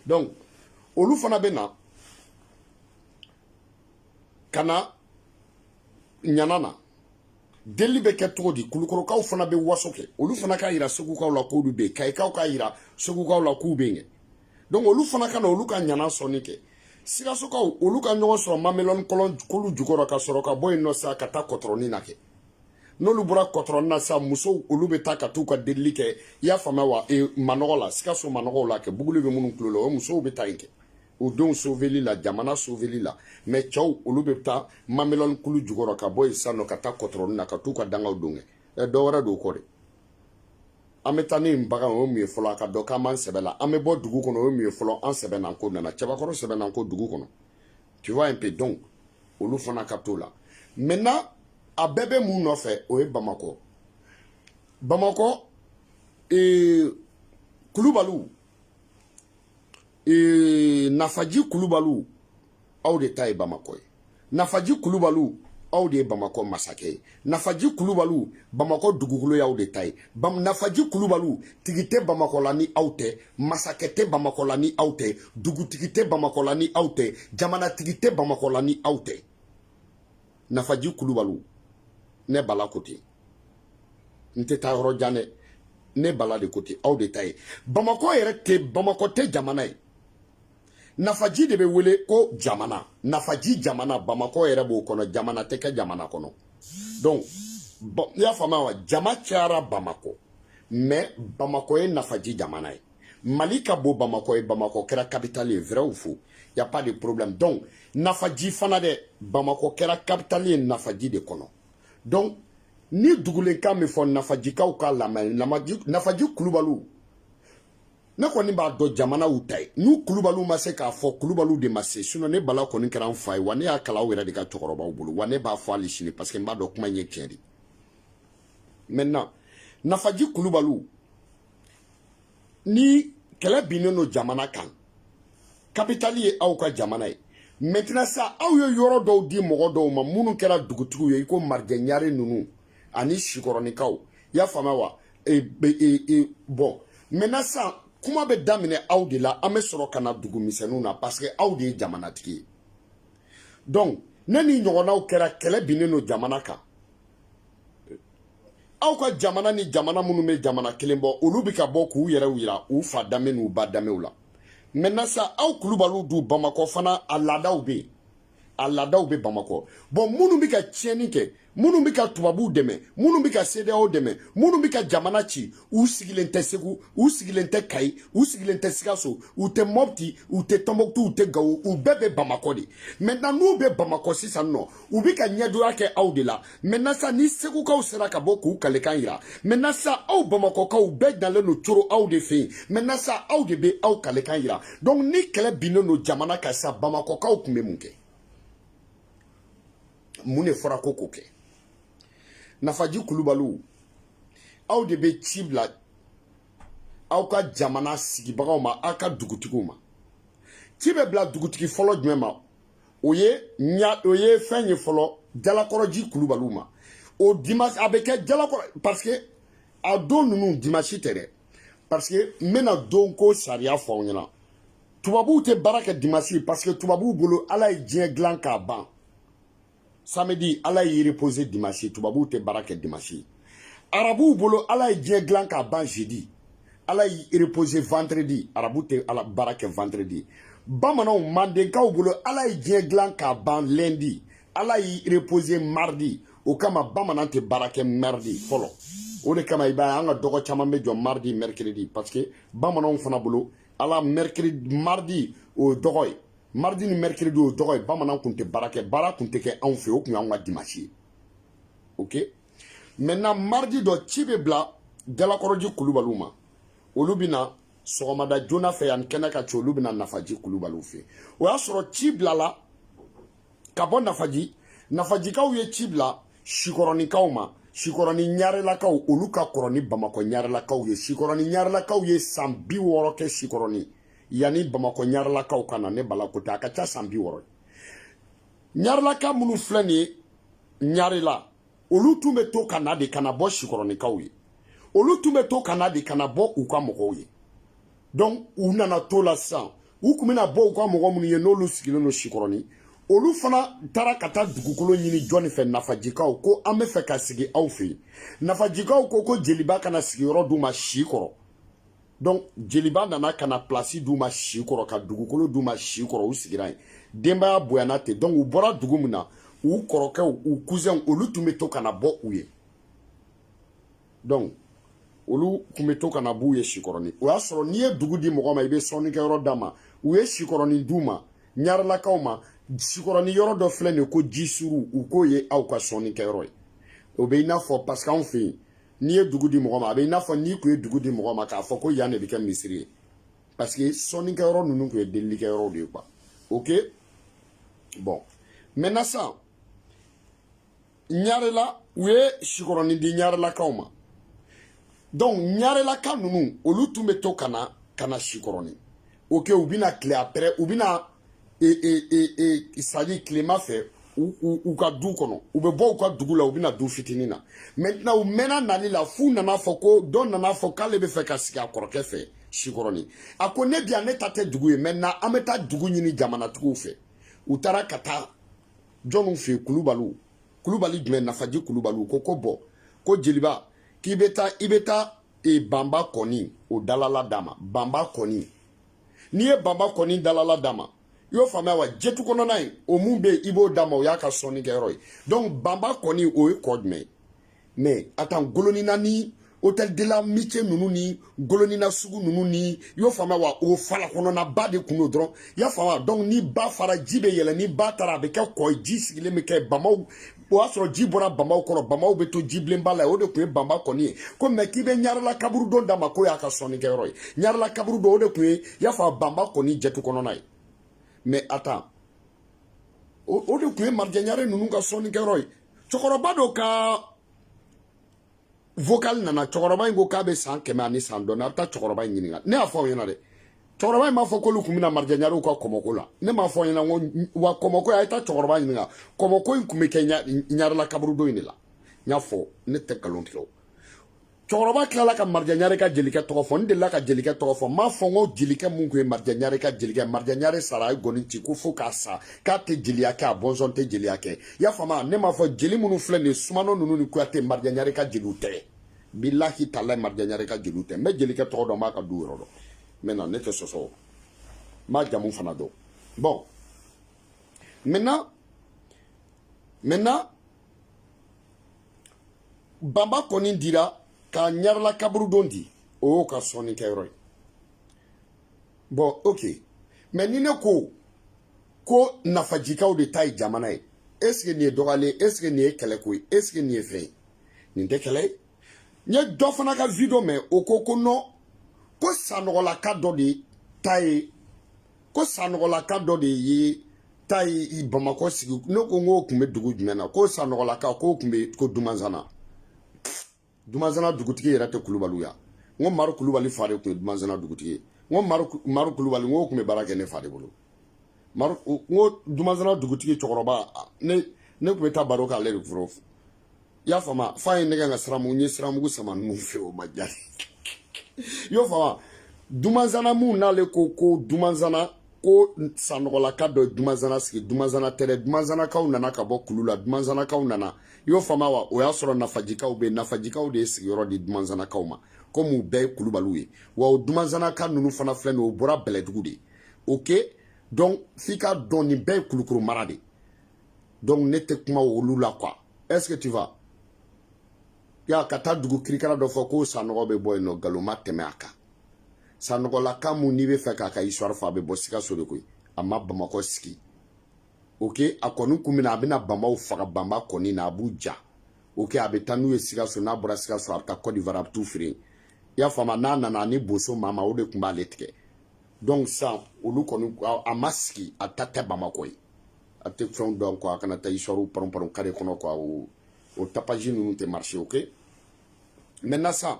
donc olu fana bɛ na ka na ɲana na delili bɛ kɛ cogo di kulukorokaw fana bɛ waso kɛ olu fana k'a yira segukaw la k'olu bɛ yen kayikaw k'a yira segukaw la k'u bɛ yen donc olu fana ka na olu ka ɲana sɔnni kɛ sikasokaw olu ka ɲɔgɔn sɔrɔ mamelɔni kɔlɔn kulu jukɔrɔ ka sɔrɔ ka bɔ yen nɔ sa ka taa kɔtɔrɔni na kɛ n'olu bɔra kɔtɔrɔni na sa musow olu bɛ taa ka t'u ka delili kɛ i y'a faamuya wa e, manɔgɔ la sikaso manɔgɔw la kɛ buguli bɛ minnu tulo la o musow bɛ taa yen kɛ u denw soveli la jamana soveli la mais cɛw olu bɛ taa mamelɔni kulu jukɔrɔ ka bɔ yen sisan nɔ ka taa kɔtɔrɔni na ka t'u ka dugawu don kɛ ɛ dɔ wɛrɛ don kɔ de an bɛ taa ni nin bagan o ye mun ye fɔlɔ a k'a dɔn k'an b'an sɛbɛ la an bɛ bɔ dugu kɔnɔ o ye mun ye fɔlɔ an sɛbɛ n'an ko nana cɛbakɔrɔ sɛbɛ n'an ko dugu kɔnɔ tu vois un peu donc olu fana ka t'o la maintenant a bɛɛ bɛ mun nɔfɛ o ye bamakɔ bamakɔ ee kulubaliw ee nafaji kulubaliw aw de ta ye bamakɔ ye nafaji kulubaliw aw de ye bamakɔ masakɛ ye nafaji kulubaliw bamakɔ dugukolo y'aw de ta ye nafaji kulubaliw tigi tɛ bamakɔ la ni aw tɛ masakɛ tɛ bamakɔ la ni aw tɛ dugutigi tɛ bamakɔ la ni aw tɛ jamanatigi tɛ bamakɔ la ni aw tɛ nafaji kulubaliw ne bala ko ten n tɛ taa yɔrɔ jan dɛ ne bala de ko ten aw de ta ye bamakɔ yɛrɛ tɛ bamakɔ tɛ jamana ye nafaji de bɛ wele ko jamana nafaji jamana bamakɔ yɛrɛ b'o kɔnɔ jamana tɛ kɛ jamana kɔnɔ donc i y'a faamuya wa jama cayara bamakɔ mais bamakɔ ye nafaji jamana ye mali ka bon bamakɔ ye bamakɔ kɛra kapitali ye vrai ou faux y a pas de problème donc nafaji fana dɛ bamakɔ kɛra kapitali ye nafaji de kɔnɔ donc ni dugulenkan min fɔ nafajikaw k'a lamɛn nafaji kulubaliw ne kɔni b'a dɔn jamana aw ta ye n'u kulubaliw ma se k'a fɔ kulubaliw de ma se sinon ne bala kɔni kɛra n fa ye wa ne y'a kalan aw yɛrɛ de ka cɛkɔrɔbaw bolo wa ne b'a fɔ hali sini parce que n b'a dɔn kuma in ye tiɲɛ de maintenant nafaji kulubaliw ni kɛlɛ binnen don jamana kan kapitali ye aw ka jamana ye maintenant sa aw ye yɔrɔ dɔw di mɔgɔ dɔw ma minnu kɛra dugutigiw ye i ko marijɛ ɲare ninnu ani sikɔrɔnikaw i y'a faamuya wa e, e, e, bon maintenant sa kuma bɛ daminɛ aw de la an bɛ sɔrɔ ka na dugu misɛnninw na parce que aw de ye jamanatigi ye donc ni nin ɲɔgɔnnaw kɛra kɛlɛ binnen don jamana kan aw ka jamana ni jamana minnu bɛ jamana kelen bɔ olu bɛ ka bɔ k'u yɛrɛw yira u fa danbe n'u ba danbew la maintenant sa aw kulubaliw dun bamakɔ fana a laadaw bɛ yen a laadaw bɛ bamakɔ bon minnu bɛ ka tiɲɛni kɛ minnu bɛ ka tubabuw dɛmɛ minnu bɛ ka cedeao dɛmɛ minnu bɛ ka jamana ci u sigilen tɛ segu u sigilen tɛ kayi u sigilen tɛ sikaso u tɛ mɔpti u tɛ tɔnbɔkutu u tɛ gawo u bɛɛ bɛ bamakɔ de maintenant n'u bɛ bamakɔ sisan nɔ u bɛ ka ɲɛdoya kɛ aw de la maintenant sa ni segukaw sera ka bɔ k'u kalekan yira maintenant sa aw bamakɔkaw bɛɛ dalen don coro aw de fɛ yen maintenant sa aw de bɛ aw kalekan yira donc ni kɛlɛ binnen don jamana kan sa bamakɔkaw tun bɛ mun kɛ mun de fɔra ko k'o kɛ nafaji kulubaliw aw de bɛ ci bila aw ka jamana sigibagaw ma aw ka dugutigiw ma ci bɛ bila dugutigi fɔlɔ jumɛn ma o ye ɲa o ye fɛn ye fɔlɔ jalakɔrɔji kulubaliw ma o dimanche a bɛ kɛ jalakɔrɔ parce que a don ninnu dimanche tɛ dɛ parce que n bɛna don ko sariya fɔ aw ɲɛna tubabuw tɛ baara kɛ dimanche parce que tubabuw bolo ala ye diɲɛ dilan k'a ban samedi ala y'i repose dimanche tubabuw tɛ baara kɛ dimanche arabuw bolo ala ye diɲɛ dilan k'a ban jeudi ala y'i repose vendredi arabu tɛ baara kɛ vendredi bamananw mandenkaw bolo ala ye diɲɛ dilan k'a ban lundi ala y'i repose mardi o kama bamanan tɛ baara kɛ mardi fɔlɔ o de kama i b'a ye an ka dɔgɔ caman bɛ jɔ mardi mercredi parce que bamananw fana bolo ala mercredi mardi o ye dɔgɔ ye mardi ni mercredi o tɔgɔ ye bamanan kun tɛ baara kɛ baara kun tɛ kɛ anw fɛ o kun y'anw ka dimanche ye ok maintenant mardi dɔ ci bɛ bila jalakɔrɔji kulubaliw ma olu bɛ na sɔgɔmada joona fɛ yanni kɛnɛ ka ci olu bɛ na nafaji kulubaliw fɛ o y'a sɔrɔ ci bilala ka bɔ nafaji nafajikaw ye ci bila sikɔrɔnikaw ma sikɔrɔni ɲarelakaw olu ka kɔrɔ ni bamakɔ ɲarelakaw ye sikɔrɔni ɲarelakaw ye san bi wɔɔrɔ kɛ sikɔrɔni yanni bamakɔ ɲarelakaw ka na ne bala ko tɛ a ka ca san bi wɔɔrɔ ye ɲarelaka minnu filɛ nin ye ɲarela olu tun bɛ to ka na de ka na bɔ sikɔrɔnikaw ye olu tun bɛ to ka na de ka na bɔ u ka mɔgɔw ye donc u nana to la sisan u kun bɛ na bɔ u ka mɔgɔ minnu ye n'olu sigilen don sikɔrɔni olu fana taara ka taa dugukolo ɲini jɔni fɛ nafajikaw ko an bɛ fɛ ka sigi aw fɛ yen nafajikaw ko ko jeliba kana sigiyɔrɔ d'u ma si kɔrɔ donc jeliba nana ka na plasi d'u ma si kɔrɔ ka dugukolo d'u ma si kɔrɔ u sigira yen denbaya bonyana ten donc u bɔra dugu min na u kɔrɔkɛw u cousinw olu tun bɛ to ka na bɔ u ye donc olu tun bɛ to ka na b'u ye sikɔrɔni o y'a sɔrɔ n'i ye dugu di mɔgɔ ma i bɛ sɔnnikɛyɔrɔ d'a ma u ye sikɔrɔni d'u ma ɲarelakaw ma sikɔrɔni yɔrɔ dɔ filɛ nin ye ko jisuru u k'o ye aw ka sɔnnikɛyɔrɔ ye o bɛ i n'a fɔ parce que anw fɛ yen n'i ye dugu di mɔgɔ ma a bɛ i n'a fɔ n'i kun ye dugu di mɔgɔ ma k'a fɔ ko yan de bɛ kɛ misiri ye parce que sɔnnikɛyɔrɔ ninnu tun ye delilikɛyɔrɔw de ye quoi ok bon maintenant sisan ɲarela u ye sikɔrɔni di ɲarelakaw ma donc ɲarelaka ninnu olu tun bɛ to ka na ka na sikɔrɔni ok u bɛ na kile après u bɛ na e e e e c'est-à-dire kilema fɛ u ka du kɔnɔ u bɛ bɔ u ka dugu la u bɛ na du fitinin na maintenant u mɛnna nali la f'u nana fɔ ko dɔ nana fɔ k'ale bɛ fɛ ka sigi a kɔrɔkɛ fɛ sikɔrɔni a ko ne bi yan ne ta tɛ dugu ye maintenant an bɛ taa dugu ɲini jamanatigiw fɛ u taara ka taa jɔnw fɛ yen kulubaliw kulubali jumɛn nafaji kulubaliw ko ko bon ko jeliba k'i bɛ taa i bɛ taa e banba kɔni o dalala d'a ma banba kɔni n'i ye banba kɔni dalala d'a ma i y'o faamuya wa jetu kɔnɔna ye o mun bɛ yen i b'o d'a ma o y'a ka sɔnnikɛyɔrɔ ye donc banba kɔni o ye kɔ jumɛn ye mais attends golonina ni hôtel de l'amitié ninnu ni golonina sugu ninnu ni i y'o faamuya wa o fala kɔnɔnaba de kun don dɔrɔn i y'a faamuya donc ni ba fara ji bɛ yɛlɛ ni ba taara a bɛ kɛ kɔ ye ji sigilen bɛ kɛ banbaw o y'a sɔrɔ ji bɔra banbaw kɔrɔ banbaw bɛ to ji bilenba la o de kun ye banba kɔni ye ko mais k'i bɛ ɲarela kaburudo d'a ma k'o y'a ka sɔnnikɛyɔrɔ ye ɲarela kaburudo o de kun ye y'a faamu banba kɔni jɛtu kɔnɔna ye mais attends o de kun ye marijɛ ɲare ninnu ka sɔnnikɛyɔrɔ ye cɛkɔrɔba dɔ ka vocal nana cɛkɔrɔba in ko k'a bɛ san kɛmɛ ani san dɔɔni a bɛ taa cɛkɔrɔba in ɲininka ne y'a fɔ aw ɲɛna dɛ cɛkɔrɔba in m'a fɔ k'olu tun bɛna marijaɲarew ka kɔmɔko la ne m'a fɔ aw ɲɛna n ko wa kɔmɔko a ye taa cɛkɔrɔba ɲininka kɔmɔko in tun bɛ kɛ ɲarela kaburudon in de la n y'a fɔ ne tɛ nkalon tigɛ o cɛkɔrɔba tilala ka marijaɲare ka jelikɛ tɔgɔ fɔ n delila ka jelikɛ tɔgɔ fɔ n m'a fɔ n ko jelikɛ mun tun ye marijaɲare ka jelikɛ marijaɲare sara a ye gɔni ci ko fo k'a sa k'a tɛ jeliya kɛ a bɔnsɔn tɛ jeliya kɛ i y'a faamu ne m'a fɔ jeli minnu filɛ nin ye sumano ninnu ni kuyate marijaɲare ka jeliw tɛ bilahi talahi marijaɲare ka jeliw tɛ n bɛ jelikɛ tɔgɔ dɔn n b'a ka du yɔrɔ dɔn maintenant ne tɛ sɔsɔ n b'a jamu fana dɔn bon maintenant maintenant banba kɔni dira ka ɲarela kaburudon di o y'o ka sɔnnikɛyɔrɔ ye bon ok mais ni ne ko ko nafajikaw de ta ye jamana ye est ce que nin ye dɔgɔyalen est ce que nin ye kɛlɛko ye est ce que nin ye fɛn ye nin tɛ kɛlɛ ye n ye dɔ fana ka video mɛn o ko ko non ko sanɔgɔlaka dɔ de ta ye ko sanɔgɔlaka dɔ de ye ta ye bamakɔ sigi ne ko n k'o tun bɛ dugu jumɛn na ko sanɔgɔlaka k'o tun bɛ ko dumanzana dumanzana dugutigi yɛrɛ tɛ kulubaliw ya n ko maru kulubali fa de tun ye dumanzana dugutigi ye n ko maru kulubali n k'o tun bɛ baara kɛ ne fa de bolo maru n ko dumanzana dugutigi cɛkɔrɔba ne ne tun bɛ taa baro k'ale de foro i y'a faamu f'a ye ne ka siramugu n ye siramugu sama ninnu fɛ o ma diya i y'o faamu dumanzana mun n'ale ko ko dumanzana ko sanɔgɔlaka dɔ ye dumanzana sigi dumanzana tɛ dɛ dumanzanakaw nana ka bɔ kulu la dumanzanakaw nana i y'o faamuya wa o y'a sɔrɔ nafajikaw bɛ nafajikaw de ye sigiyɔrɔ di dumanzanakaw ma komi u bɛɛ ye kulubaliw ye wa o dumanzanaka ninnu fana filɛ nin ye o bɔra bɛlɛdugu de ok donc f'i k'a dɔn nin bɛɛ ye kulukoro mara de donc ne tɛ kuma olu la quoi est ce que tu vas ya ka taa dugu kirikara dɔ fɔ ko sanɔgɔ bɛ bɔ yen non nkalon ma tɛmɛ a kan sanɔgɔlaka min n'i b'a fɛ k'a ka histoire fɔ a bɛ bɔ sikaso de koyi a ma bamakɔ sigi ok a kɔni tun bɛ na a bɛna banbaw faga banba kɔni na a b'u ja ok a bɛ taa n'u ye sikaso n'a bɔra sikaso a bɛ taa côte d'ivoire a bɛ t'u feere i y'a faamu n'a nana ani boso maa ma o de tun b'ale tigɛ donc sisan olu kɔni a ma sigi a ta tɛ bamakɔ ye a tɛ fɛnw dɔn quoi a kana taa histoirew panron panron kare kɔnɔ quoi o o tapage ninnu tɛ marché ok maintenant sisan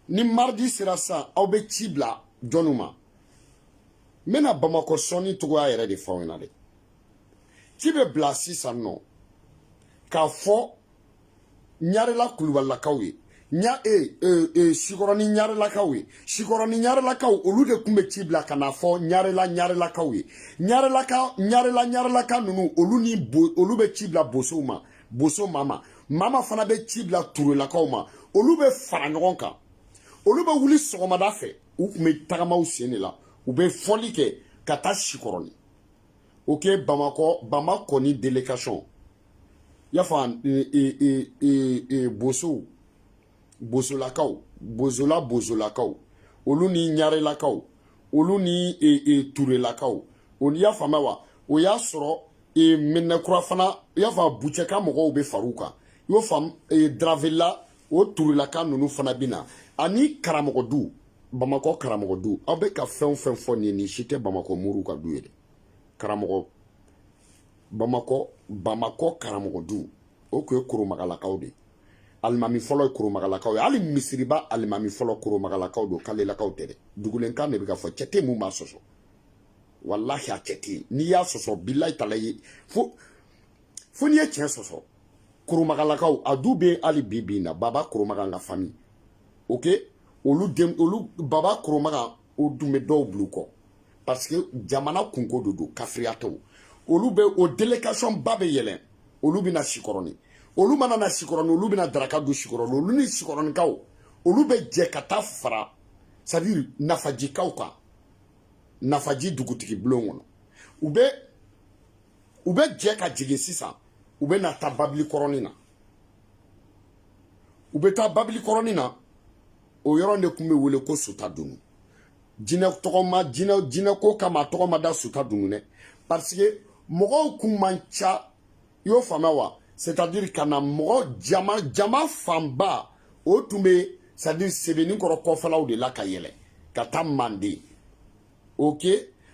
ni mardi sera sisan aw bɛ ci bila jɔnw ma n bɛna bamakɔ sɔnni cogoya yɛrɛ de fɔ aw ɲɛna dɛ ci bɛ bila sisan nɔ k'a fɔ ɲarela kulubalilakaw ye ɲa e e e sikɔrɔni ɲarelakaw ye sikɔrɔni ɲarelakaw olu de tun bɛ ci bila ka n'a fɔ ɲarela ɲarelakaw ye ɲarelaka ɲarela ɲarelaka ninnu olu ni bo olu bɛ ci bila bosow ma boso mama mama fana bɛ ci bila turelakaw ma olu bɛ fara ɲɔgɔn kan olu bɛ wuli sɔgɔmada fɛ u tun bɛ tagamaw sen de la u bɛ fɔli kɛ ka taa sikɔrɔni ok bamakɔ bama kɔni delegation y'a faamu bosow bosolakaw bozola bozolakaw olu ni ɲarelakaw olu ni e, e, turelakaw i y'a faamuya wa o y'a sɔrɔ e, minɛkura fana i y'a faamu bucɛka mɔgɔw bɛ far'u kan i y'o faamu e, dravela o turelaka ninnu fana bɛ na ani karamɔgɔ du bamakɔ karamɔgɔ du aw bɛ ka fɛn o fɛn fɔ nin ye nin si tɛ bamakɔ moriw ka du ye dɛ karamɔgɔ bamakɔ bamakɔ karamɔgɔ du o tun ye koromagalakaw de ye alimami fɔlɔ ye koromagalakaw ye hali misiriba alimami fɔlɔ koromagalakaw don kalelakaw tɛ dɛ dugulenkan de bɛ ka fɔ cɛ tɛ min b'a sɔsɔ walahi a cɛ tɛ yen n'i y'a sɔsɔ bilayi talayi fo fo n'i ye tiɲɛ sɔsɔ koromagalakaw a du bɛ hali bi bi in na baba koromaga ka famille ok olu den olu baba koromaga o tun bɛ dɔw bil'u kɔ parce que jamana kunko de don kafiriya tɛ olu bɛ o delegation ba bɛ yɛlɛn olu bɛ na sikɔrɔni olu mana na sikɔrɔni olu bɛna daraka dun sikɔrɔni olu ni sikɔrɔnikaw olu bɛ jɛ ka taa fara c'est à dire nafajikaw kan nafaji dugutigi bulon kɔnɔ u bɛ u bɛ jɛ ka jigin sisan u bɛ na taa babili kɔrɔnin na u bɛ taa babili kɔrɔnin na o yɔrɔ de tun bɛ wele ko suta dunu jinɛ tɔgɔma jinɛ jinɛ ko kama tɔgɔ ma da suta dunu dɛ parce que mɔgɔw kun man ca i y'o faamuya wa c'est à dire ka na mɔgɔ jama jama fanba o tun bɛ c'est à dire sɛbɛninkɔrɔ kɔfɛlaw de la ka yɛlɛn ka taa manden ok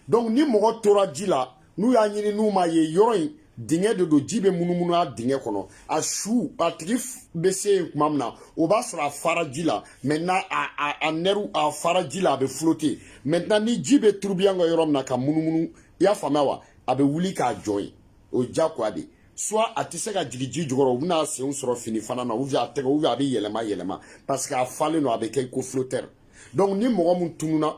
donc ni mɔgɔ tora ji la n'u y'a ɲini n'u m'a ye yɔrɔ in dingɛ de don ji bɛ munumunu a dingɛ kɔnɔ a su a tigi bɛ se yen tuma min na o b'a sɔrɔ a fara ji la maintenant a a a nɛriw a fara ji la a bɛ flotter maintenant ni ji bɛ tourbillon kɛ yɔrɔ min na ka munumunu i y'a faamuya wa a bɛ wuli k'a jɔ yen o ye diyagoya de ye soit a tɛ se ka jigin ji jukɔrɔ u bɛna senw sɔrɔ fini fana na ou bien a tɛgɛ ou bien a bɛ yɛlɛma yɛlɛma parce que a falen don a bɛ kɛ i ko flotteur donc ni mɔgɔ min tununa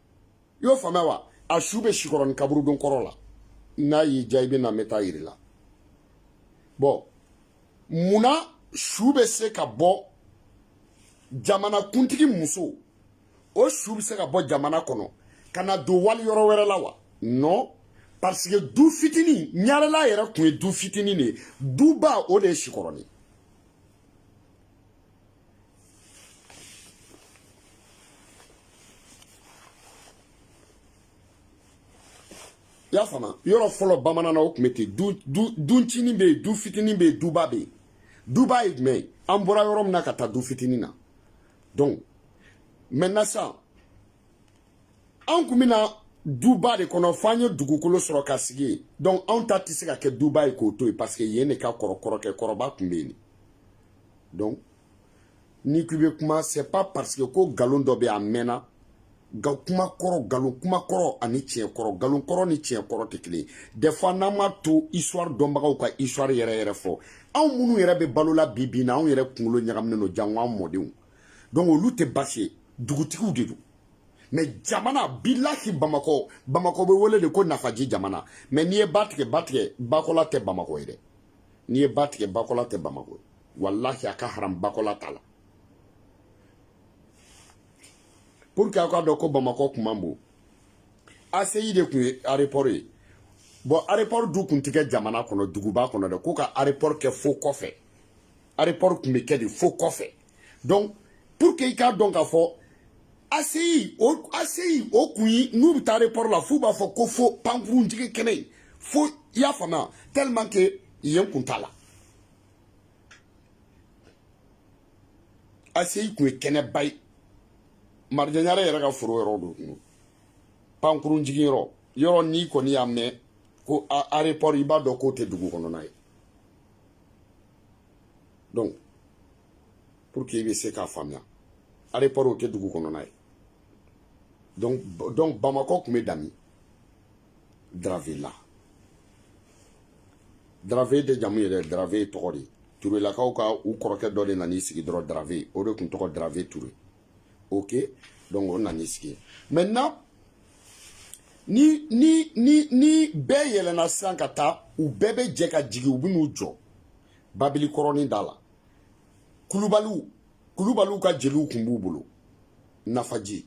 i y'o faamuya wa a su bɛ sikɔrɔni kaburudon kɔrɔ la n'a y'i diya i bɛ na n bɛ taa yir'i la bon munna su bɛ se ka bɔ jamanakuntigi muso o su bɛ se ka bɔ jamana kɔnɔ ka na don wali yɔrɔ wɛrɛ la wa non parce que du fitinin ɲarela yɛrɛ tun ye du fitinin de ye duba o de ye sikɔrɔni i y'a faamu yɔrɔ fɔlɔ bamanan na o tun bɛ ten du du du ncinin bɛ yen du fitinin bɛ yen duba bɛ yen duba ye jumɛn ye an bɔra yɔrɔ min na ka taa du fitinin na donc maintenant sisan an kun bɛ na duba de kɔnɔ fo an ye dugukolo sɔrɔ ka sigi yen donc anw ta tɛ se ka kɛ duba ye k'o to yen parce que yen de ka kɔrɔ kɔrɔkɛ kɔrɔba tun bɛ yen donc ni k'i bɛ kuma c'est pas parce que ko nkalon dɔ bɛ a mɛnna nka kuma kɔrɔ nkalon kuma kɔrɔ ani tiɲɛ kɔrɔ nkalon kɔrɔ ni tiɲɛ kɔrɔ tɛ kelen ye des fois n'an m'a to histoire dɔnbagaw ka histoire yɛrɛ yɛrɛ fɔ anw minnu yɛrɛ bɛ balo la bi bi in na anw yɛrɛ kunkolo ɲagaminen don jango an mɔdenw donc olu tɛ baasi ye dugutigiw de don mais jamana bilahi bamakɔ bamakɔ bɛ wele de ko nafaji jamana mais n'i ye ba tigɛ ba tigɛ bakɔla tɛ bamakɔ ye dɛ n'i ye ba tigɛ bakɔla tɛ bamakɔ ye walahi a ka haram bakɔla t'a la pour que aw k'a dɔn ko bamakɔ kun man bon ACI de tun ye aéroport ye bon aéroport dun kun tɛ kɛ jamana kɔnɔ duguba kɔnɔ dɛ ko ka aéroport kɛ fo kɔfɛ aéroport kun bɛ kɛ de fo kɔfɛ donc pour que i k'a dɔn k'a fɔ ACI o ACI o kun ye n'u bɛ taa aéroport la f'u b'a fɔ ko fo pankurun jigin kɛnɛ in fo i y'a faamuya tellement que yen kun t'a la ACI kun ye kɛnɛba ye marija ɲare yɛrɛ ka foro yɔrɔ don pankurun jigin yɔrɔ yɔrɔ n'i kɔni y'a mɛn ko aéroport i b'a dɔn k'o tɛ dugu kɔnɔna ye donc pour que i bɛ se k'a faamuya aéroport o tɛ dugu kɔnɔna ye donc donc bamakɔ tun bɛ dan min daravela darave tɛ jamu ye dɛ darave ye tɔgɔ de ye turelakaw ka u kɔrɔkɛ dɔ de nan'i sigi dɔrɔn darave o de tun tɔgɔ darave ture ok donc o nan'i sigi yen maintenant ni ni ni ni bɛɛ yɛlɛnna sisan ka taa u bɛɛ bɛ jɛ ka jigin u bɛ n'u jɔ babili kɔrɔnin da la kulubaliw kulubaliw ka jeliw tun b'u bolo nafaji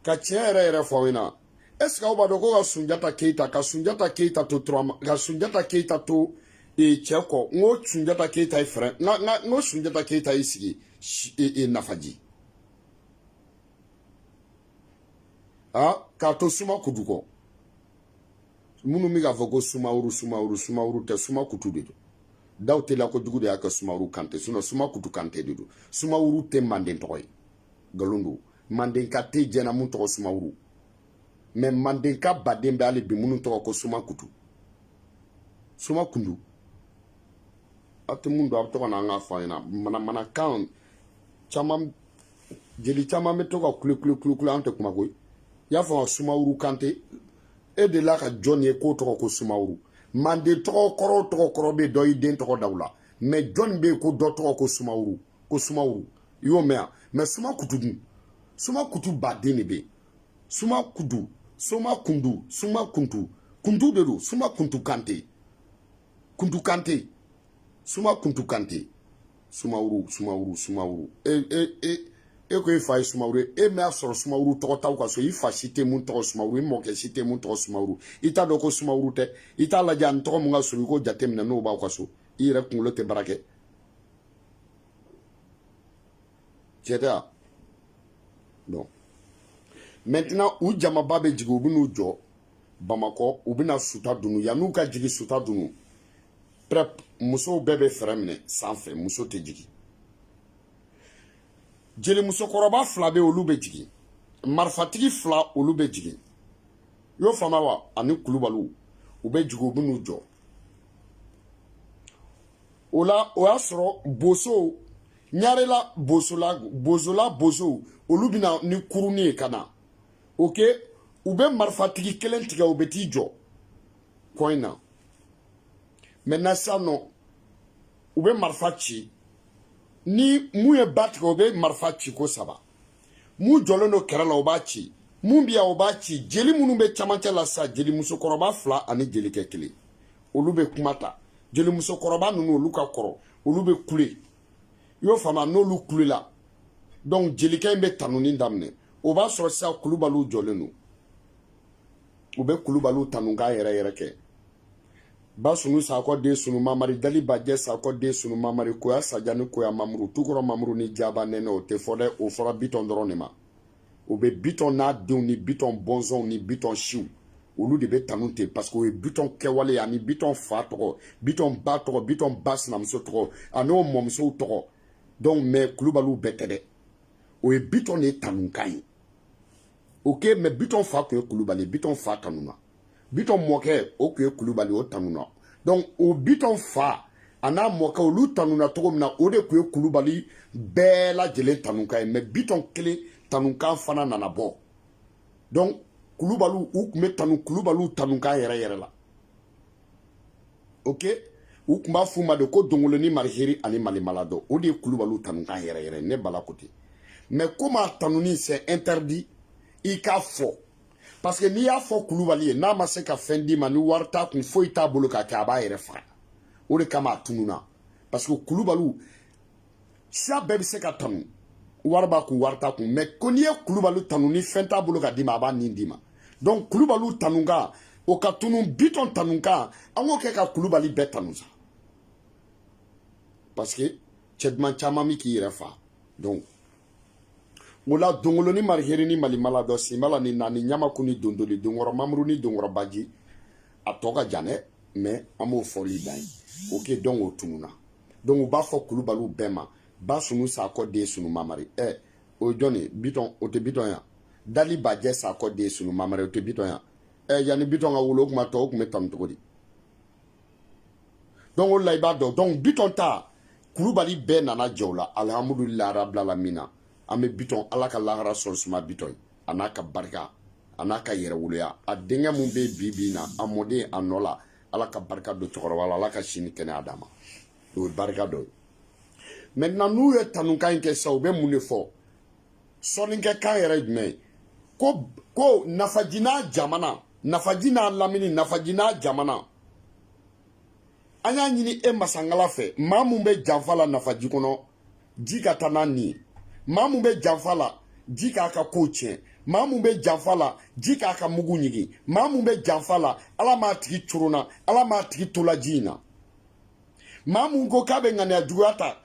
ka tiɲɛ yɛrɛ yɛrɛ fɔ aw ɲɛna est ce que aw b'a dɔn ko ka sunjata keyita ka sunjata keyita to turama ka sunjata keyita to e, cɛ kɔ n ko sunjata keyita ye fɛrɛ n ka n ka n ko sunjata keyita y'i sigi e, e, nafaji a k'a to suma kutu kɔ minnu bɛ k'a fɔ ko sumaworo sumaworo sumaworo tɛ suma kutu de don daw teliya kojugu de y'a kɛ sumaworo kante sinon suma kutu kante de don sumaworo tɛ manden tɔgɔ ye nkalon don mandenka tɛ diɲɛ na mun tɔgɔ sumaworo mais mandenka baden bɛ hali bi minnu tɔgɔ ko suma kutu suma kundu aw tɛ mun dɔn aw bɛ to ka na an ka fɔ an ɲɛna manamanakan caman jeli caman bɛ to ka kule kule kule kule an tɛ kuma koyi i y'a faamu sumaworo kante e delila ka jɔn ye k'o tɔgɔ ko sumaworo manden tɔgɔ kɔrɔ o tɔgɔ kɔrɔ bɛ dɔ i den tɔgɔ da o la mais jɔn bɛ yen ko dɔ tɔgɔ ko sumaworo ko sumaworo i y'o mɛn yan mais suma kutu dun suma kutu baden de bɛ yen suma kutu suma kuntu suma kuntu kuntu de don suma kuntu kante kuntu kante suma kuntu kante sumaworo sumaworo sumaworo e e e e ko e fa ye sumaworo ye e m'a sɔrɔ sumaworo tɔgɔ t'aw ka so i fa si tɛ mun tɔgɔ sumaworo i mɔkɛ si tɛ mun tɔgɔ sumaworo i t'a dɔn ko sumaworo tɛ i t'a lajɛ ani tɔgɔ mun ka surun i k'o jateminɛ n'o b'aw ka so i yɛrɛ kunkolo tɛ baara kɛ tiɲɛ tɛ wa donc maintenant u jamaba bɛ jigin u bɛ n'u jɔ bamakɔ u bɛna suta dunu yan'u ka jigin suta dunu bref musow bɛɛ bɛ fɛrɛ minɛ sanfɛ muso tɛ jigin jeli musokɔrɔba fila bɛ olu bɛ jigin marifatigi fila olu bɛ jigin i y'o faamuya wa ani kulubaliw u bɛ jigin u bɛ n'u jɔ o la o y'a sɔrɔ bosow ɲarela bosola bozola bosow olu bɛna ni kuruni ye ka na ok u bɛ marifatigi kelen tigɛ u bɛ t'i jɔ kɔ in na maintenant sisan nɔ u bɛ marifa ci ni mun ye ba tigɛ o bɛ marifa ci ko saba mun jɔlen don kɛrɛ la o b'a ci mun bɛ yan o b'a ci jeli minnu bɛ camancɛ la sisan jeli musokɔrɔba fila ani jelikɛ kelen olu bɛ kuma ta jeli musokɔrɔba ninnu olu ka kɔrɔ olu bɛ kule i y'o faamu n'olu kulela donc jelikɛ in bɛ tanuni daminɛ o b'a sɔrɔ sisan kulubaliw jɔlen don u bɛ kulubaliw tanukan yɛrɛ yɛrɛ kɛ ba sunu sakɔ den sunu mamari dali bajɛ sakɔ den sunu mamari koya sajani koya mamuru tukɔrɔ mamuru ni jaba nɛnɛ o tɛ fɔ dɛ o fɔra bitɔn dɔrɔn de ma o bɛ bitɔn n'a denw ni bitɔn bɔnsɔnw ni bitɔn siw olu de bɛ tanu ten parce que o ye bitɔn kɛwale ani bitɔn fa tɔgɔ bitɔn ba tɔgɔ bitɔn ba sinamuso tɔgɔ ani o mɔmusow tɔgɔ donc mais kulubaliw bɛɛ tɛ dɛ o ye bitɔn de tanukan ye ok mais bitɔn fa tun ye kulubali bitɔn fa tanuna bitɔn mɔkɛ o tun ye kulubali o tanuna donc o bitɔn fa a n'a mɔkɛ olu tanuna cogo min na o de tun ye kulubali bɛɛ lajɛlen tanukan ye mais bitɔn kelen tanukan fana nana bɔ donc kulubaliw u tun bɛ tanu kulubaliw tanukan yɛrɛ yɛrɛ la ok u tun b'a f'u ma de ko dongolo ni mariheri ani malimaladɔ o de ye kulubaliw tanukan yɛrɛ yɛrɛ ne bala ko ten mais comme a tanuni c'est interdit i k'a fɔ parce que n'i y'a fɔ kulubali ye n'a ma se ka fɛn d'i ma ni wari t'a kun foyi t'a bolo k'a kɛ a b'a yɛrɛ faga o de kama a tununna parce que kulubaliw siya bɛɛ bɛ se ka tanu wari b'a kun wari t'a kun mais ko n'i ye kulubali tanu ni fɛn t'a bolo ka d'i ma a b'a nin d'i ma donc kulubaliw tanukan o ka tunu bitɔn tanukan an k'o kɛ ka kulubali bɛɛ tanu sa parce que cɛ duman caman bɛ k'i yɛrɛ fa donc o la dongolo ni mariheri ni malimaladɔ sinbala ni naani ɲamaku ni dondoli donkɔrɔ mamuru ni donkɔrɔ baji a tɔ ka jan dɛ mais an b'o fɔli dan yen ok donc o tununa donc u b'a fɔ kulubaliw bɛɛ ma ba sunu sakɔ den sunu mamari ɛ eh, o ye jɔn ye bitɔn o tɛ bitɔn yan dali bajɛ sakɔ den sunu mamari o tɛ bitɔn yan ɛ eh, yanni bitɔn ka wolo o tuma tɔw tun bɛ tanu cogo di donc o la i b'a dɔn donc bitɔn ta kulubali bɛɛ nana jɛ o la alihamudulilayi rabilalamina an bɛ bitɔn ala ka lahara sɔn suma bitɔn a n'a ka barika a n'a ka yɛrɛwoloya a denkɛ min bɛ bi bi na a mɔden a nɔ la ala ka barika don cɛkɔrɔba la ala ka si ni kɛnɛya d'a ma o ye barika dɔ ye maintenant n'u ye tanukan in kɛ sisan u bɛ mun de fɔ sɔnnikɛkan yɛrɛ jumɛn ye ko ko nafaji n'a jamana nafaji n'a lamini nafaji n'a jamana an y'a ɲini e masangala fɛ maa mun bɛ janfa la nafaji kɔnɔ ji ka taa n'a nin ye maa mun bɛ janfa la ji k'a ka kow tiɲɛ maa mun bɛ janfa la ji k'a ka mugu ɲigin maa mun bɛ janfa la ala m'a tigi coronna ala m'a tigi tola ji in na maa mun ko k'a bɛ ŋaniya juguya ta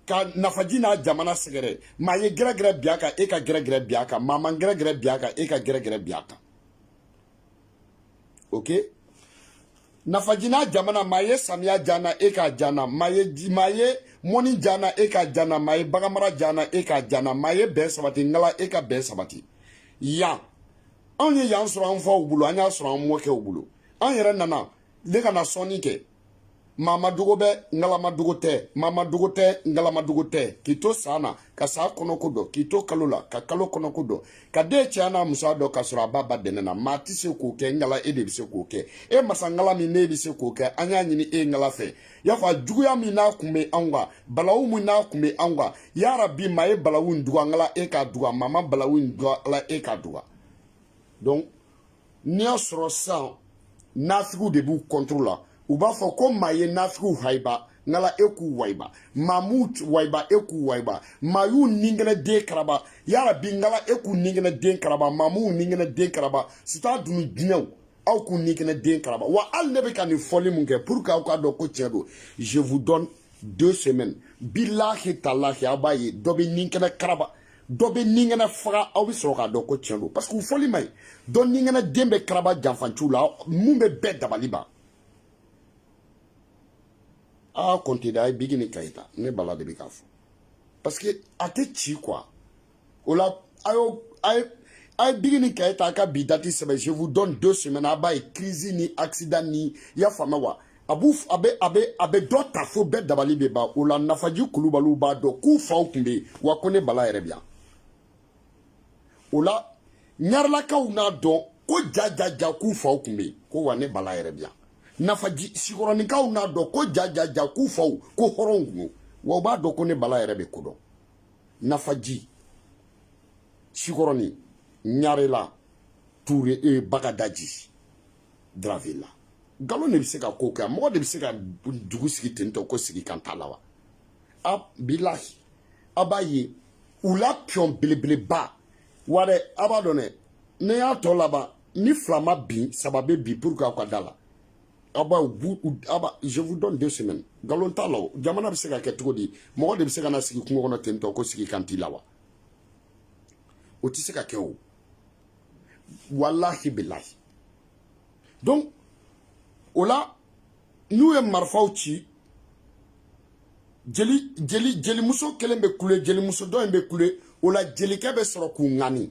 ka nafaji n'a jamana sɛgɛrɛ maa ye gɛrɛgɛrɛ bi a kan e ka gɛrɛgɛrɛ bi a kan maa man gɛrɛgɛrɛ bi a kan e ka gɛrɛgɛrɛ bi a kan ok nafaji n'a jamana maa ye samiya j'an na e k'a j'an na maa ye maa ye mɔni j'an na e k'a j'an na maa ye baganmara j'an na e k'a j'an na maa ye bɛn sabati ngala e ka bɛn sabati yan anw ye yan sɔrɔ an faw bolo an y'a sɔrɔ an mɔkɛw bolo an yɛrɛ nana ne ka na sɔnni kɛ maa ma dogo bɛ ngala ma dogo tɛ maa ma dogo tɛ ngala ma dogo tɛ k'i to san na ka san kɔnɔko dɔn k'i to kalo la ka kalo kɔnɔko dɔn ka den cɛya n'a musoya dɔn k'a sɔrɔ a b'a ba dɛnɛ na maa tɛ se k'o kɛ ngala e de bɛ se k'o kɛ e masa ngala min ne bɛ se k'o kɛ an y'a ɲini e ngala fɛ y'a fɔ juguya min n'a kun bɛ anw kan balawu min n'a kun bɛ anw kan yarabi maa ye balawu in duga ngala e k'a duga maa ma balawu in duga ala e k'a duga donc n'i y'a sɔrɔ sisan nafigiw de b'u contre la u b'a fɔ ko maa ye nafigiw hayiba ngala e k'u wayiba maa m'u wayiba e k'u wayiba maa y'u ninkɛnɛ den karaba yarabi ngala e k'u ninkɛnɛ den karaba maa m'u ninkɛnɛ den karaba sita dunu jinɛw aw k'u ninkɛnɛ den karaba wa hali ne bɛ ka nin fɔli mun kɛ pour que aw k'a dɔn ko tiɲɛ don je vous donne deux semaines bilahi talahi aw b'a ye dɔ bɛ ninkɛnɛ karaba dɔ bɛ ninkɛnɛ faga aw bɛ sɔrɔ k'a dɔn ko tiɲɛ don parce que u fɔli man ɲi dɔ ninkɛnɛ den bɛ karaba janfanciw la min bɛ bɛɛ dabali ban à compter de a ye bigi ni kayi ta ne bala de bɛ k'a fɔ parce que a tɛ ci quoi o la a y'o a ye a ye bigi ni kayi ta a ka bi dati sɛbɛn je vous donne deux semaines a b'a ye crise ni accident ni i y'a faamuya wa a b'u a bɛ a bɛ a bɛ dɔ ta fo bɛɛ dabali bɛ ban o la nafaji kulubaliw b'a dɔn k'u faw tun bɛ yen wa ko ne bala yɛrɛ bi yan o la ɲarelakaw n'a dɔn ko ja ja ja k'u faw tun bɛ yen ko wa ne bala yɛrɛ bi yan nafaji sikɔrɔninkaw n'a dɔn ko ja ja ja k'u faw ko hɔrɔnw tun don wa u b'a dɔn ko ne bala yɛrɛ bɛ ko dɔn nafaji sikɔrɔnin ɲarela ture e bagadaji daravela nkalon de bɛ se ka ko kɛ mɔgɔ de bɛ se ka dugu sigi ten tɔ ko sigi kan t'a la wa a bilahi a b'a ye u la pion belebeleba wa dɛ a b'a dɔn dɛ ne y'a tɔ laban ni fila ma bin saba bɛ bin pour que aw ka da la aw b'a aw b'a je vous donne deux semaines nkalon t'a la o jamana bɛ se ka kɛ cogo di mɔgɔ de bɛ se ka na sigi kungo kɔnɔ ten tɔ ko sigi kan t'i la wa o tɛ se ka kɛ o walahi bilahi donc o la n'u ye marifaw ci jeli jeli jelimuso kelen bɛ kule jelimuso dɔ in bɛ kule o la jelikɛ bɛ sɔrɔ k'u ŋani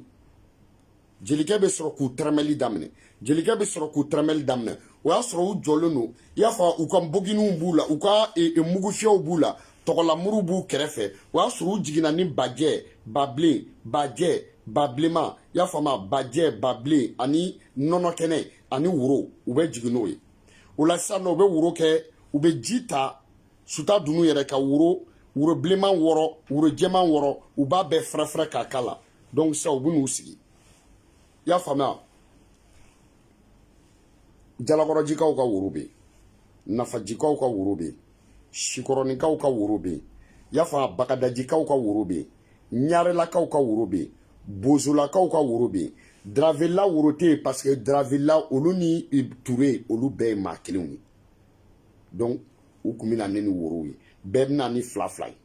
jelikɛ bɛ sɔrɔ k'u tɛrɛmɛli daminɛ jelikɛ bɛ sɔrɔ k'u tɛrɛmɛli daminɛ o y'a sɔrɔ u jɔlen don i y'a fɔ u ka boginiw b'u la u ka e, e, mugufiyɛw b'u la tɔgɔlamuru b'u kɛrɛfɛ o y'a sɔrɔ u jiginna ni bajɛ babilen bajɛ babilenman i y'a faamu bajɛ babilen ani nɔnɔ kɛnɛ ani woro u bɛ jigin n'o ye o la sisan nɔ u bɛ woro kɛ u bɛ ji ta suta dunun yɛrɛ ka woro woro bilenman wɔɔrɔ woro jɛman wɔɔrɔ u b'a bɛɛ fɛrɛfɛrɛ k'a k'a la donc sisan u bɛ n'u sigi i y'a faamuya jalakɔrɔjikaw ka woro bɛ yen nafajikaw ka woro bɛ yen sikɔrɔninkaw ka woro bɛ yen y'a faamu bagadajikaw ka woro bɛ yen ɲarelakaw ka woro bɛ yen bozolakaw ka woro bɛ yen dravela woro tɛ yen parce que dravela olu ni ture olu bɛɛ ye maa kelenw ye donc u tun bɛ na ne ni worow ye bɛɛ bɛ na ni fila fila ye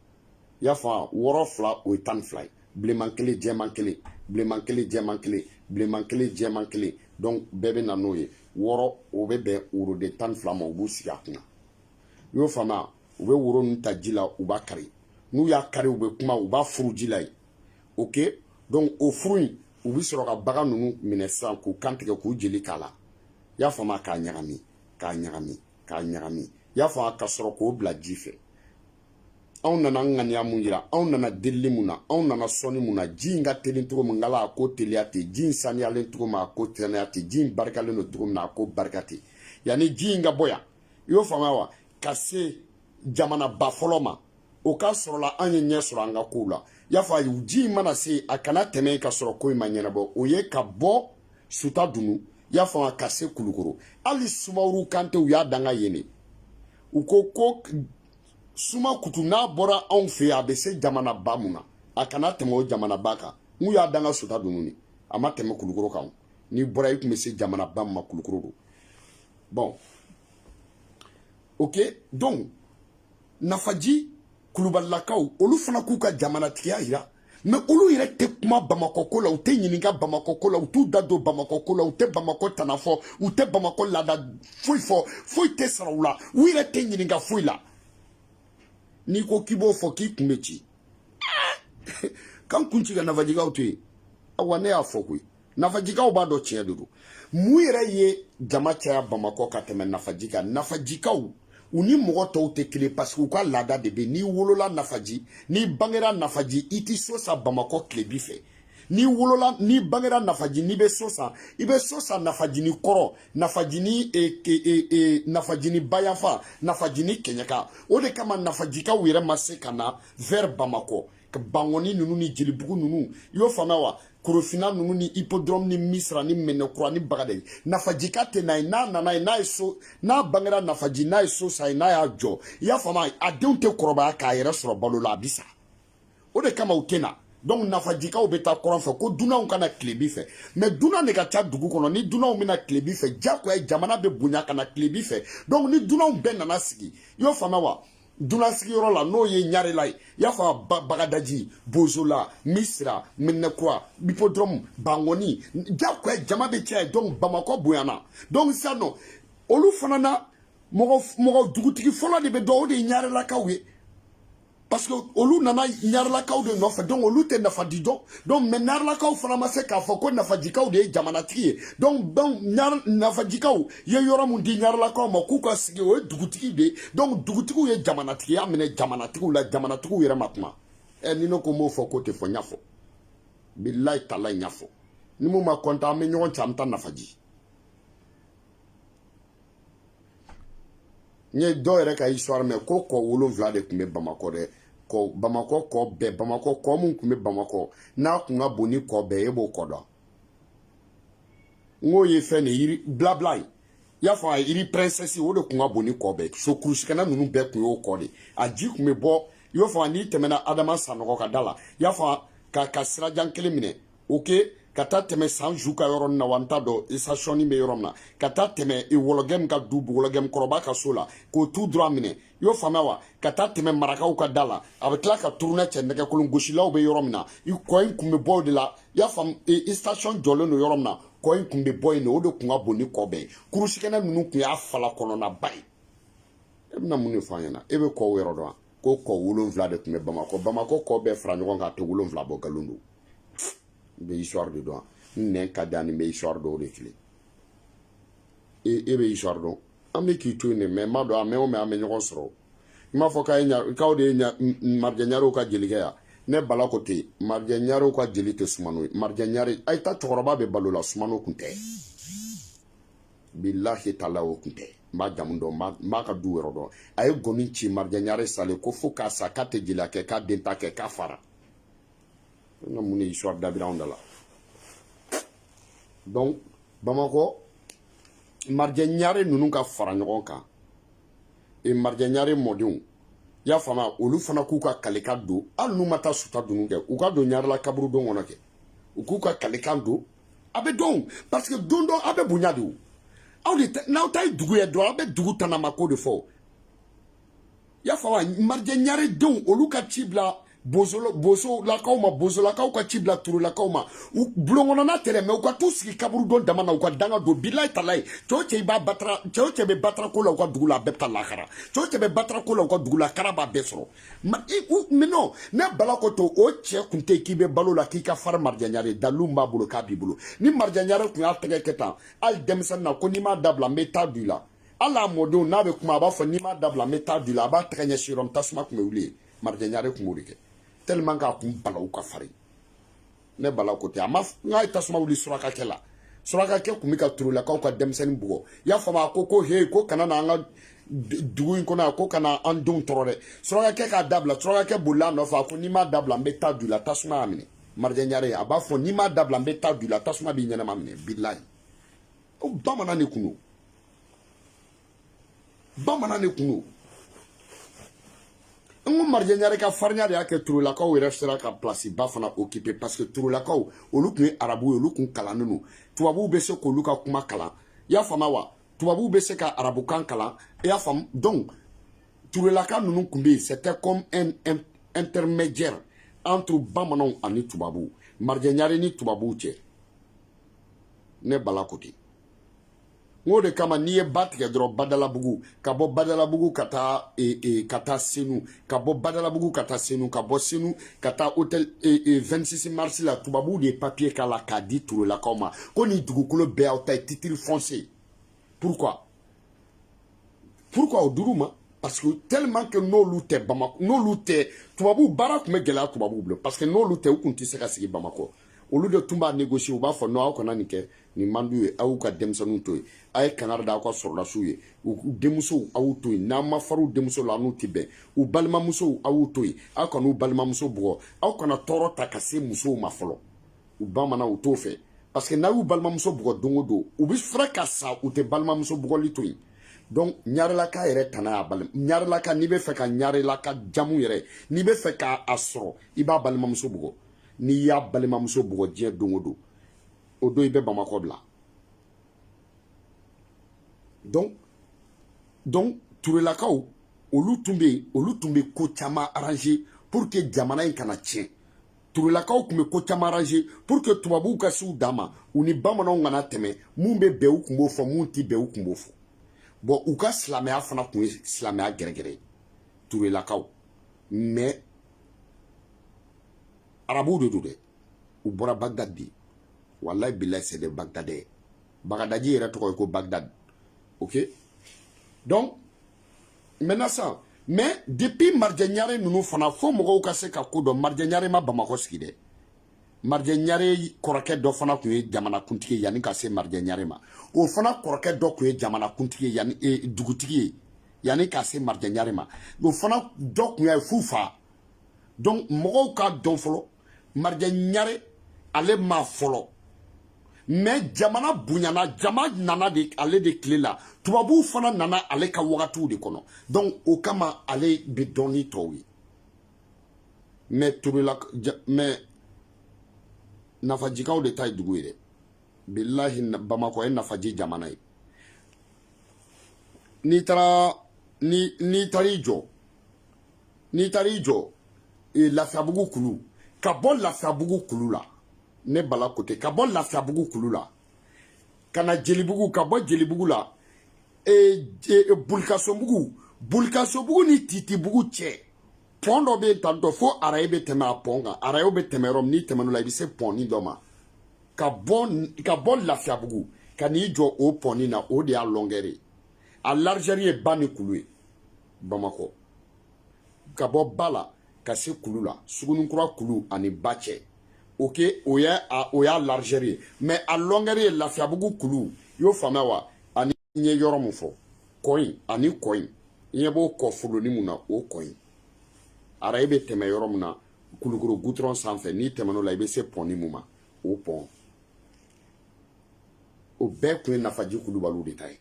y'a faamu wɔɔrɔ fila o ye tan ni fila ye bilenman kelen jɛman kelen bilenman kelen jɛman kelen bilenman kelen jɛman kelen donc bɛɛ bɛ na n'o ye wɔɔrɔ o bɛ bɛn woroden tan ni fila ma u b'u sigi a kunna i y'o faamuya u bɛ woro ninnu ta ji la u b'a kari n'u y'a kari u bɛ kuma u b'a furu ji la yen ok donc o furu in u bɛ sɔrɔ ka bagan ninnu minɛ sisan k'u kan tigɛ k'u jeli k'a la i y'a faamuya k'a ɲagami k'a ɲagami k'a ɲagami i y'a faamuya ka sɔrɔ k'o bila ji fɛ anw nana ŋaniya mun yira anw nana delili mun na anw nana sɔnni mun na ji in ka teli cogo min ngala a ko teliya ten ji in saniyalen cogo min a ko saniya ten ji in barikalen don cogo min na a ko barika ten yanni ji in ka bɔ yan i y'o faamuya wa ka se jamanaba fɔlɔ ma o ka sɔrɔla an ye ɲɛ sɔrɔ an ka kow la y'a fɔ a ye ji in mana se a kana tɛmɛ ka sɔrɔ ko in ma ɲɛnabɔ o ye ka bɔ suta dunu y'a faamuya ka se kulukoro hali sumaworo kante u y'a danga yen de u ko ko suma kutu n'a bɔra anw fɛ yen a bɛ se jamanaba mun na a kana tɛmɛ o jamanaba kan n'u y'a danga suta dunu ni a ma tɛmɛ kulukoro kan n'i bɔra i tun bɛ se jamanaba mun ma kulukoro don Bon. Ok, donc, Nafaji, Kulubalilakaw, olu fana k'u ka jamanatigiya yira mais olu yɛrɛ tɛ kuma bamakɔ ko la u tɛ ɲininka bamakɔ ko la u t'u da don bamakɔ ko la u tɛ bamakɔ tana fɔ u tɛ bamakɔ laada foyi fɔ foyi tɛ sara u la u yɛrɛ tɛ ɲininka foyi la n'i ko k'i b'o fɔ k'i kun bɛ ci k'an kun ci ka nafajikaw to yen awa ne y'a fɔ koyi nafajikaw b'a dɔn tiɲɛ de don mun yɛrɛ ye jama caya bamakɔ ka tɛmɛ nafaji kan nafajikaw u ni mɔgɔ tɔw tɛ kelen parce que u ka laada de bɛ n'i wolola nafaji n'i bangera nafaji i tɛ so san bamakɔ tilebi fɛ n'i wolola n'i bangera nafaji n'i bɛ so san i bɛ so san nafaji ni kɔrɔn nafaji ni e, e, e, e, nafaji ni bayanfan nafaji ni kɛɲɛka o de kama nafajikaw yɛrɛ ma se ka na vers bamakɔ ka bangɔni ninnu ni jelibugu ninnu i y'o faamuya wa korofina ninnu ni hippodrome ni misira ni mɛnɛkura ni bagadaji nafajika tɛ na yen n'a nana yen n'a ye so n'a bangera nafaji n'a ye so san yen n'a y'a jɔ i y'a faamuya a denw tɛ kɔrɔbaya k'a yɛrɛ sɔrɔ balo la a bi sa o de kama u tɛ na donc nafajikaw bɛ taa kɔrɔn fɛ ko dunanw kana tilebi fɛ mais dunan de ka ca dugu kɔnɔ ni dunanw bɛ na tilebi fɛ jagoya jamana bɛ bonya ka na tilebi fɛ donc ni dunanw bɛɛ nana sigi i y'o faamuya wa dunan sigiyɔrɔ la n'o ye ɲarela ye i y'a faamu bagadaji bozola misira mɛnɛkura hippodrome bangɔni jagoya jama bɛ caya donc bamakɔ bonyana donc sisan nɔ olu fana na mɔgɔ mɔgɔ dugutigi fɔlɔ de bɛ dɔn o de ye ɲarelakaw ye parce que olu nana ɲarelakaw de nɔfɛ donc olu tɛ nafaji dɔn donc mais ɲarelakaw fana ma se k'a fɔ ko nafajikaw de ye jamanatigi ye donc donc nafajikaw ye yɔrɔ min di ɲarelakaw ma k'u ka sigi o ye dugutigi de ye donc dugutigiw ye jamanatigiya minɛ jamanatigiw la jamanatigiw yɛrɛ ma kuma ɛ eh, ni ne ko n b'o fɔ k'o tɛ fɔ n y'a fɔ bilahi tala n y'a fɔ ni mun ma kɔntan an bɛ ɲɔgɔn cɛ an bɛ taa nafaji n ye dɔw yɛrɛ ka histoire mɛn ko kɔ wolonwula de tun bɛ bamakɔ dɛ kɔ bamakɔ kɔ bɛɛ bamakɔ kɔ mun tun bɛ bamakɔ n'a tun ka bon ni kɔ bɛɛ e b'o kɔ dɔn n k'o ye fɛn de rue blabla ye i y'a faamu rue princesse o de kun ka bon ni kɔ bɛɛ so kurusikɛnɛ ninnu bɛɛ kun y'o kɔ de a ji kun bɛ bɔ i y'o faamu n'i tɛmɛna adama sanɔgɔ ka da la i y'a faamu ka sirajan kelen minɛ ok ka taa tɛmɛ san ju ka yɔrɔ na wa n t'a dɔn station bɛ yɔrɔ min na ka taa tɛmɛ wɔlɔgɛm ka du wɔlɔgɛm kɔrɔba ka so la k'o tout droit minɛ i y'o faamuya wa ka taa tɛmɛ marakaw ka da la a bɛ tila ka turunɛ cɛ nɛgɛkolon gosilaw bɛ yɔrɔ min na kɔ in kun bɛ bɔ o de la i y'a faamu station jɔlen don yɔrɔ min na kɔ in kun bɛ bɔ yen de o de kun ka bon ni kɔ bɛɛ ye kurusikɛnɛ ninnu kun y'a fala kɔnɔnaba ye e bɛna mun de fɔ an ɲɛna e bɛ kɔw yɔrɔ dɔn wa ko kɔ wolonwula de tun bɛ bamakɔ bamakɔ kɔ bɛɛ fara ɲɔgɔn kan a tɛ wolonwula bɔ nkalon don n bɛ histoire de dɔn wa n nɛn ka di ani n bɛ histoire dɔw de tilen e bɛ histoire dɔn an bɛ k'i to yen de mais n b'a dɔn a mɛn o mɛn an bɛ ɲɔgɔn sɔrɔ i m'a fɔ k'a ye ɲa k'aw de ye ɲa marijɛ ɲarew ka jelikɛ ye ne bala ko ten marijɛ ɲarew ka jeli tɛ sumano ye marijɛ ɲare a ye taa cɛkɔrɔba bɛ balo la sumano kun tɛ bilahi tala o kun tɛ n b'a jamu dɔn n b'a ka du yɔrɔ dɔn a ye gɔmi ci marijɛ ɲare salen kɔ fo k'a sa k'a tɛ jeliya kɛ k'a den ta kɛ k'a fara n ka mun de histoire dabira anw da la donc bamakɔ marijɛ ɲare ninnu ka fara ɲɔgɔn kan e marijɛ ɲare mɔdenw i y'a faamuya olu fana k'u ka kalekan don hali n'u ma taa sutadunun kɛ u ka don ɲarela kaburudo kɔnɔ kɛ u k'u ka kalekan don a bɛ dɔn parce que don o don aw bɛ bonya de o aw de n'aw ta ye dugu ye dɔrɔn aw bɛ dugu tanamako de fɔ i y'a faamu wa marijɛ ɲare denw olu ka ci bila bosolakaw ma bosolakaw ka ci bila turelakaw ma u bulonkɔnɔna tɛrɛmɛ u ka t'u sigi kaburudo dama na u ka danga don bilayi talayi cɛ o cɛ b'a batara cɛ o cɛ bɛ batara ko la u ka dugu la a bɛɛ bɛ taa lahara cɛ o cɛ bɛ batara ko la u ka dugu la kara b'a bɛɛ sɔrɔ mais non ne bala ko to o cɛ kun tɛ k'i bɛ balo la k'i ka farin marijɛ ɲare dalilu b'a bolo k'a b'i bolo ni marijɛ ɲare tun y'a tɛgɛ kɛ tan hali denmisɛnnin na ko n'i m'a dabila n bɛ ta don i la hali a mɔdenw n'a bɛ kuma a b'a fɔ n'i m'a dabila n bɛ ta don i la a b'a tɛgɛ ɲɛsin yɔrɔ min tasuma tun bɛ wuli yen marijɛ ɲare tun b'o de kɛ tellement k'a kun balaw ka farin ne bala ko tɛ a ma n k'a ye tasuma wuli surakakɛ la surakakɛ tun bɛ ka turelakaw ka denmisɛnnin bugɔ i y'a faamu a ko ko he ko kana na an ka dugu in kɔnɔ yan ko kana an denw tɔɔrɔ dɛ surakakɛ k'a dabila surakakɛ bolila a nɔfɛ a ko n'i m'a dabila n bɛ ta don i la tasuma y'a minɛ marijɛ ɲare a b'a fɔ n'i m'a dabila n bɛ ta don i la tasuma b'i ɲɛnama minɛ bilayi ko bamanan de kun don bamanan de kun don n ko marijɛ ɲare ka farinya de y'a kɛ turelakaw yɛrɛ sera ka place ba fana occuper parce que turelakaw olu tun ye arabu ye olu tun kalannen don tubabuw bɛ se k'olu ka kuma kalan i y'a faamu wa tubabuw bɛ se ka arabukan kalan i y'a faamu donc turelaka ninnu tun bɛ yen c'était comme un, un intermédiaire entre bamananw ani tubabuw marijɛ ɲare ni tubabuw cɛ ne bala ko ten o de kama n'i ye ba tigɛ dɔrɔn badalabugu ka bɔ badalabugu ka taa e, e, ka taa senu ka bɔ badalabugu ka taa senu ka bɔ senu ka taa hôtel e, e, 26 mars la tubabuw de ye papier k'a la k'a di turelakaw ma ko nin dugukolo bɛɛ y'aw ta ye titre foncier pourquoi pourquoi o dir'u ma parce que tellement que n'olu tɛ bamakɔ n'olu tɛ tubabuw baara tun bɛ gɛlɛya tubabuw bolo parce que n'olu tɛ u tun tɛ se ka sigi bamakɔ olu de tun b'a négocier u b'a fɔ non aw kana nin kɛ nin man d'u ye aw y'u ka denmisɛnninw to yen a ye kangari da aw ka sɔrɔdasiw ye u denmusow aw y'u to yen n'aw ma far'u denmuso la a n'u tɛ bɛn u balimamusow aw y'u to yen aw kana u balimamuso bugɔ aw kana tɔɔrɔ ta ka se musow ma fɔlɔ u bamanan u t'o fɛ parce que n'aw y'u balimamuso bugɔ don o don u bɛ fura ka sa u tɛ balimamuso bugɔli to yen donc ɲarelaka yɛrɛ tana y'a balima ɲarelaka n'i bɛ fɛ ka ɲarelaka jamu yɛrɛ n'i bɛ fɛ k'a sɔrɔ i b'a balimamuso bugɔ n'i y'a balimamuso bugɔ diɲɛ don o don o don i bɛ bamakɔ bila donc donc turelakaw olu tun bɛ yen olu tun bɛ ko caman arranger pour que jamana in kana tiɲɛ turelakaw tun bɛ ko caman arranger pour que tubabuw ka s'u dan ma u ni bamananw kana tɛmɛ min bɛ bɛn u tun b'o fɔ min tɛ bɛn u tun b'o fɔ bon u ka silamɛya fana tun ye silamɛya gɛrɛgɛrɛ ye turelakaw mais arabuw de don dɛ u bɔra bagdad de walayi bilayi c'est des bagdadais bagadaji yɛrɛ tɔgɔ ye ko bagdad ok donc maintenant sisan mais depuis marijɛ ɲare ninnu fana fo mɔgɔw ka se ka ko dɔn marijɛ ɲare ma bamakɔ sigi dɛ marijɛ ɲare kɔrɔkɛ dɔ fana tun ye jamana kuntigi ye yanni ka se marijɛ ɲare ma o fana kɔrɔkɛ dɔ tun ye jamana kuntigi ye yanni e, dugutigi ye yanni ka se marijɛ ɲare ma o fana dɔ tun ye f'u fa donc mɔgɔw k'a dɔn fɔlɔ marijɛ ɲare ale ma fɔlɔ mais jamana bonyana jama nana de ale de tile la tubabuw fana nana ale ka wagatiw de kɔnɔ donc o kama ale bɛ dɔn ni tɔw ye mais tobila mais nafajikaw de ta ye dugu ye dɛ bilahi bamakɔ ye nafaji jamana ye n'i taara n'i taara i jɔ n'i taara i jɔ e, lafiyabugu kulu ka bɔ lafiyabugu kulu la ne bala côté ka bɔ lafiyabugu kulu la ka na jelibugu ka bɔ jelibugu la e, e, bulikasobugu bulikasobugu ni titibugu cɛ pɔn dɔ bɛ ta dɔ fo araye bɛ tɛmɛ a pɔn kan arayew bɛ tɛmɛ yɔrɔ min n'i tɛmɛn'o la i bɛ se pɔnni dɔ ma ka bɔ ka bɔ lafiyabugu ka n'i jɔ o pɔnni na o de y'a longueur ye a largeur ye ba ni kulu ye bamakɔ ka bɔ ba la ka se kulu la sugunikura kulu ani ba cɛ ok o y'a o y'a largeur ye mais a longueur ye lafiyabugu kulu i y'o faamuya wa ani n ye yɔrɔ min fɔ kɔ in ani kɔ in i ɲɛ b'o kɔ foloni mun na o kɔ in araye bɛ tɛmɛ yɔrɔ min na kulukɔrɔ gudɔrɔn sanfɛ n'i tɛmɛn'o la i bɛ se pɔnni mun ma o pɔn o bɛɛ tun ye nafaji kulubaliw de ta ye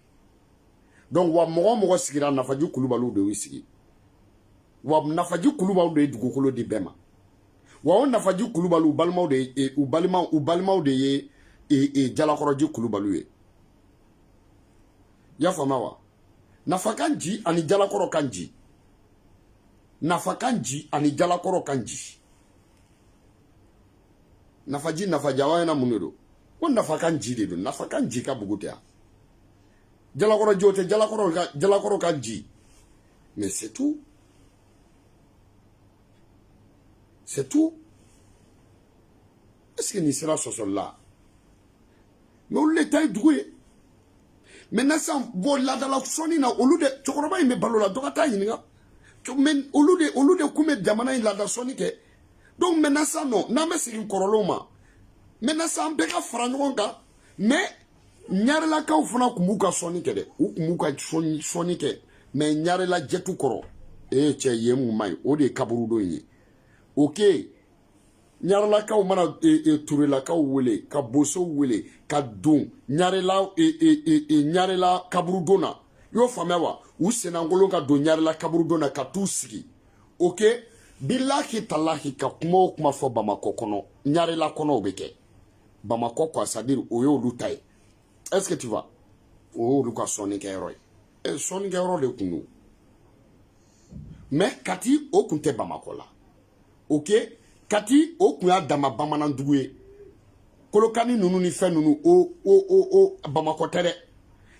donc wa mɔgɔ o mɔgɔ sigira nafaji kulubaliw de y'u sigi wa nafaji kulubaliw de ye dugukolo di bɛɛ ma wa o nafaji kulubaliw balimaw de ye e, u balimaw u balimaw de ye e, e, jalakɔrɔji kulubaliw ye i y'a faamuya wa nafa kan ji ani jalakɔrɔ kan ji nafa kan ji ani jalakɔrɔ kan ji nafaji nafajawa ɲɛna mun de don ko nafa kan ji de don nafa kan ji ka bugu tɛ yan jalakɔrɔji o tɛ jalakɔrɔ ka jalakɔrɔ ka ji mais c'est tout c'est tout est ce que nin sera sɔsɔli la mais olu de ta ye dugu ye maintenant sisan bon laadala sɔnni na olu de cɛkɔrɔba in bɛ balo la dɔ ka taa ɲininka mais olu de olu de kun bɛ jamana in laada sɔnni kɛ donc maintenant sisan non n'an bɛ segin kɔrɔlenw ma maintenant sisan an bɛɛ ka fara ɲɔgɔn kan mais ɲarelakaw fana kun b'u ka sɔnni kɛ dɛ u kun b'u ka sɔnni kɛ mɛ ɲarela jɛtu kɔrɔ ee cɛ yen mun man ɲi o de ye kaburudon ye ok ɲarelakaw mana e, e, turelakaw wele ka bosow wele ka don ɲarela e, e, e, e, ɲarela kaburudon na i y'o faamuya wa u sennankolon ka don ɲarela kaburudon na ka t'u sigi ok bilahi talahi ka kuma o kuma fɔ bamakɔ kɔnɔ ɲarela kɔnɔ o bɛ kɛ bamakɔ quoi c'est à dire o y'olu ta ye est ce que tu vois o y'olu ka sɔnni kɛyɔrɔ ye e eh, sɔnni kɛyɔrɔ de kun don mais kati o kun tɛ bamakɔ la ok kati o kun y'a dama bamanan dugu ye kolokani ninnu ni fɛn ninnu o o o o bamakɔ tɛ dɛ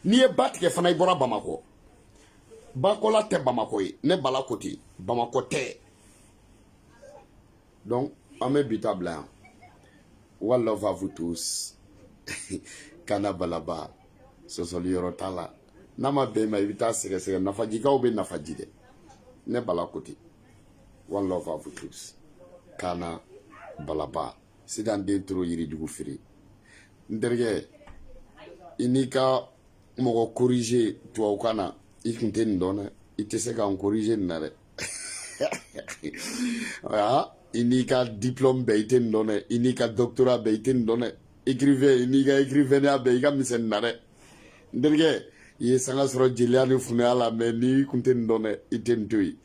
n'i ye ba tigɛ fana i bɔra bamakɔ bakɔla tɛ bamakɔ ye ne bala ko ten bamakɔ tɛ donc an bɛ bi ta bila yan one love à vous tous kana balaba sɔsɔli yɔrɔ t'a la n'a ma bɛn ma i bɛ taa sɛgɛsɛgɛ nafajikaw bɛ nafaji dɛ ne bala ko ten one love à vous tous kana balaba sidan den toro yirijugu feere n terikɛ i n'i ka mɔgɔ corriger tubabukan na i kun tɛ nin dɔn dɛ i tɛ se ka n corriger nin na dɛ voilà i n'i ka diplôme bɛɛ i tɛ nin dɔn dɛ i n'i ka doctorat bɛɛ i tɛ nin dɔn dɛ écrivain i n'i ka écrivainneya bɛɛ i ka misɛn nin na dɛ n terikɛ i ye sanga sɔrɔ jeliya ni funɛya la mais n'i kun tɛ nin dɔn dɛ i tɛ nin to yen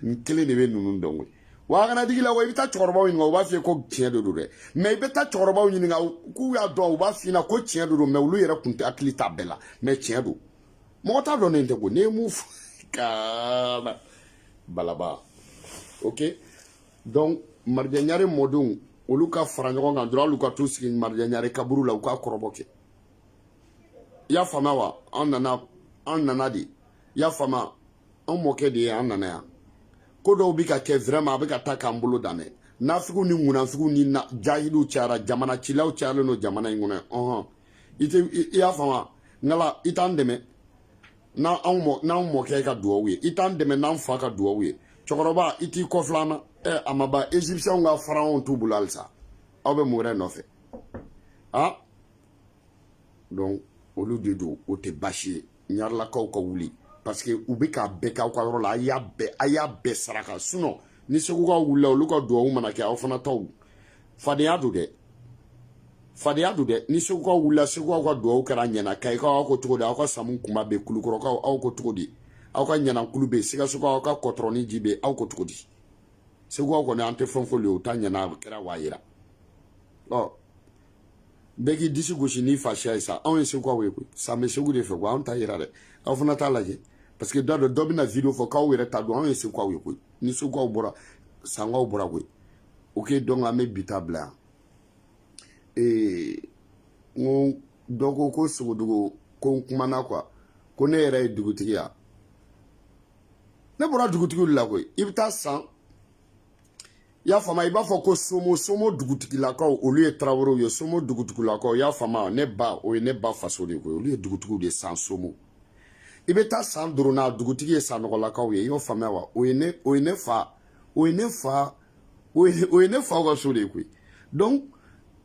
n kelen de bɛ ninnu dɔn koyi wa a kana digi la wa i bɛ taa cɛkɔrɔbaw ɲininka u b'a f'i ye ko tiɲɛ de don dɛ mais i bɛ taa cɛkɔrɔbaw ɲininka k'u y'a dɔn u b'a f'i ɲɛna ko tiɲɛ de don mais olu yɛrɛ kun tɛ hakili t'a bɛɛ la mais tiɲɛ don mɔgɔ t'a dɔn ne tɛ ko ne ye mun fɔ kana balaba ok donc marijɛ ɲare mɔdenw olu ka fara ɲɔgɔn kan dɔrɔn hali u ka t'u sigi marijɛ ɲare kaburu la u ka kɔrɔbɔ kɛ i y'a faamuya wa an nana an nana de i y'a faamuya an mɔkɛ de ye an nana yan ko dɔw bɛ ka kɛ vraiment a bɛ ka taa k'an bolo dan dɛ nafigiw ni ŋunanfigiw ni jahiliw cayara jamana cilaw cayalen don jamana in kɔnɔ ɔhɔn i tɛ i y'a faamu ngala i t'an dɛmɛ n'an anw mɔ n'anw mɔkɛ ka duwawu ye i t'an dɛmɛ n'an fa ka duwawu ye cɛkɔrɔba i t'i kɔfilɛ an na ɛ a ma ban égyptienw ka pharaon t'u bolo halisa aw bɛ mun wɛrɛ nɔfɛ a donc olu de don o tɛ baasi ye ɲarelakaw ka wuli parce que u bɛ k'a bɛɛ k'aw ka yɔrɔ la a y'a bɛɛ a y'a bɛɛ saraka sinon ni segukaw wulila olu ka duwawu mana kɛ aw fana taw fadenya don dɛ fadenya don dɛ ni segukaw wulila segukaw ka duwawu kɛra ɲɛna kayikaw aw ko cogo di aw ka samu kunba bɛ kulukɔrɔkaw aw ko cogo di aw ka ɲanankulu bɛ sikasokaw aw ka kɔtɔrɔni ji bɛ aw ko cogo di segukaw kɔni an tɛ fɛn fɔ le o ta ɲɛna a kɛra wa yira ɔ bɛɛ k'i disi gosi n'i fasiya ye sa anw ye segukaw ye koyi san bɛ segu de fɛ ko anw ta yira dɛ aw fana t'a lajɛ parce que da dɔ dɔ bɛna video fɔ k'aw yɛrɛ ta don anw ye segukaw ye koyi ni segukaw bɔra sankaw bɔra koyi ok donc an bɛ bi ta bila yan ee n ko dɔ ko ko sogodogo ko n kumana quoi ko ne yɛrɛ ye dugutigi ya ne bɔra dugutigiw de la koyi i bɛ taa san i y'a faamuya i b'a fɔ ko somo somo dugutigilakaw olu ye tarawelew ye somo dugutigilakaw i y'a faamuya ne ba o ye ne ba faso de koyi olu ye dugutigiw de san somo i bɛ taa san durunna dugutigi ye sanɔgɔlakaw ye i y'o faamuya wa o ye ne o ye ne fa o ye ne fa o ye ne fa ka so de ye koyi donc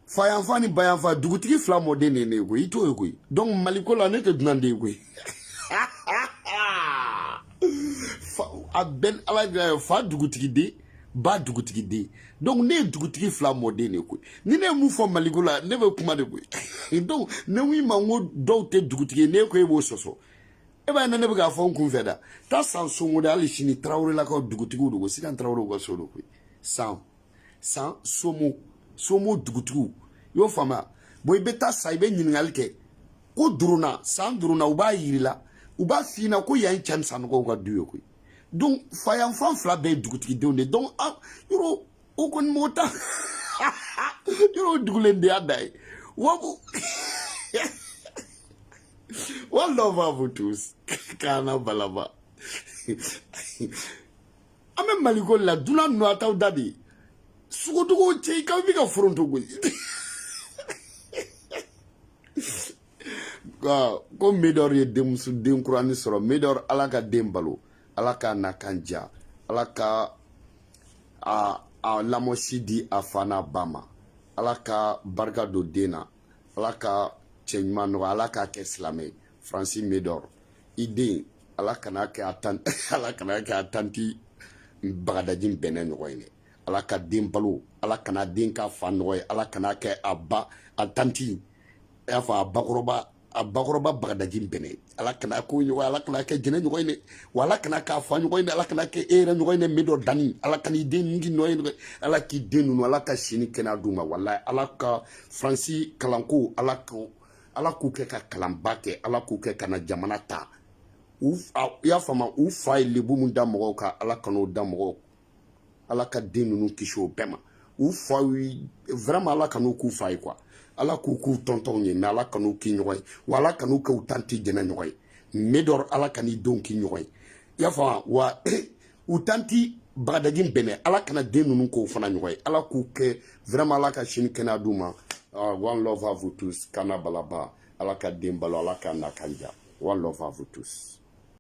fayanfan ni bayanfan dugutigi fila mɔden de ne ye koyi i t'o ye koyi donc maliko la ne tɛ dunan den ye koyi a bɛɛ ala jira ye fa dugutigi den ba dugutigi den donc ne ye dugutigi fila mɔden de koyi ni ne ye mun fɔ maliko la ne bɛ kuma de koyi donc ne ko i ma n ko dɔw tɛ dugutigi ye ne ko e b'o sɔsɔ e b'a ye ne bɛ k'a fɔ n kun fɛ da taa san somo de hali sini tarawelelakaw dugutigiw de ko sikan tarawelew ka so de koyi san san somo somo dugutigiw i y'o faamuya bɔn i bɛ taa san i bɛ ɲininkali kɛ ko durunna san durunna u b'a yir'i la u b'a f'i ɲɛna ko yan ye cɛ ni sanɔgɔw ka du ye koyi donc fayanfan fila bɛɛ ye dugutigidenw de donc a yɔrɔ o kɔni m'o ta yɔrɔ o dugulendenya da ye wabu One love à vous tous. Carnavalaba. an bɛ maliko la dunan ninnu a t'aw da de sogodogow cɛ i k'aw bɛ ka foronto gosi ko medɔr ye denmuso den kurani sɔrɔ medɔr ala ka den balo ala k'a nakan diya ala ka a a lamɔsi di a fa n'a ba ma ala ka barika don den na ala ka cɛ ɲuman nɔgɔya ala k'a kɛ silamɛ ye faransi medɔr i den ala kana kɛ a tan ala kana kɛ a tanti bagadaji bɛnɛ ɲɔgɔn ye dɛ ala ka den balo ala kana den k'a fa ɲɔgɔn ye ala kana kɛ a ba a tanti i y'a fɔ a bakɔrɔba a bakɔrɔba bagadaji bɛnɛ ala kana k'o ɲɔgɔn ala kana kɛ jɛnɛ ɲɔgɔn ye wa ala kana k'a fa ɲɔgɔn ye ala kana kɛ e yɛrɛ ɲɔgɔn ye medɔr danni ala kana i den k'i ɲɔgɔn ye ala k'i den ninnu ala ka si ni kɛnɛya d'u ma walayi ala ka faransi kalanko ala ko ala k'u kɛ ka kalanba kɛ ala k'u kɛ ka na jamana ta i y'a faamu u fa ye lebu min da mɔgɔw kan ala kan'o da mɔgɔw ala ka den ninnu kisi o bɛɛ ma u fa vraiment ala kan'u k'u fa ye quoi ala k'u k'u tɔntɔnw ye mais ala kan'u k'i ɲɔgɔn ye wa ala kan'u k'u tanti jɛnɛ ɲɔgɔn ye médor ala kan'i denw k'i ɲɔgɔn ye i y'a faamu wa u tanti bagadaji bɛnɛ ala kana den ninnu k'o fana ɲɔgɔn ye ala k'u kɛ vraiment ala ka si ni kɛnɛya d'u ma ah, one love à vous tous kana balaba ala ka den balo ala k'a nakan diya one love à vous tous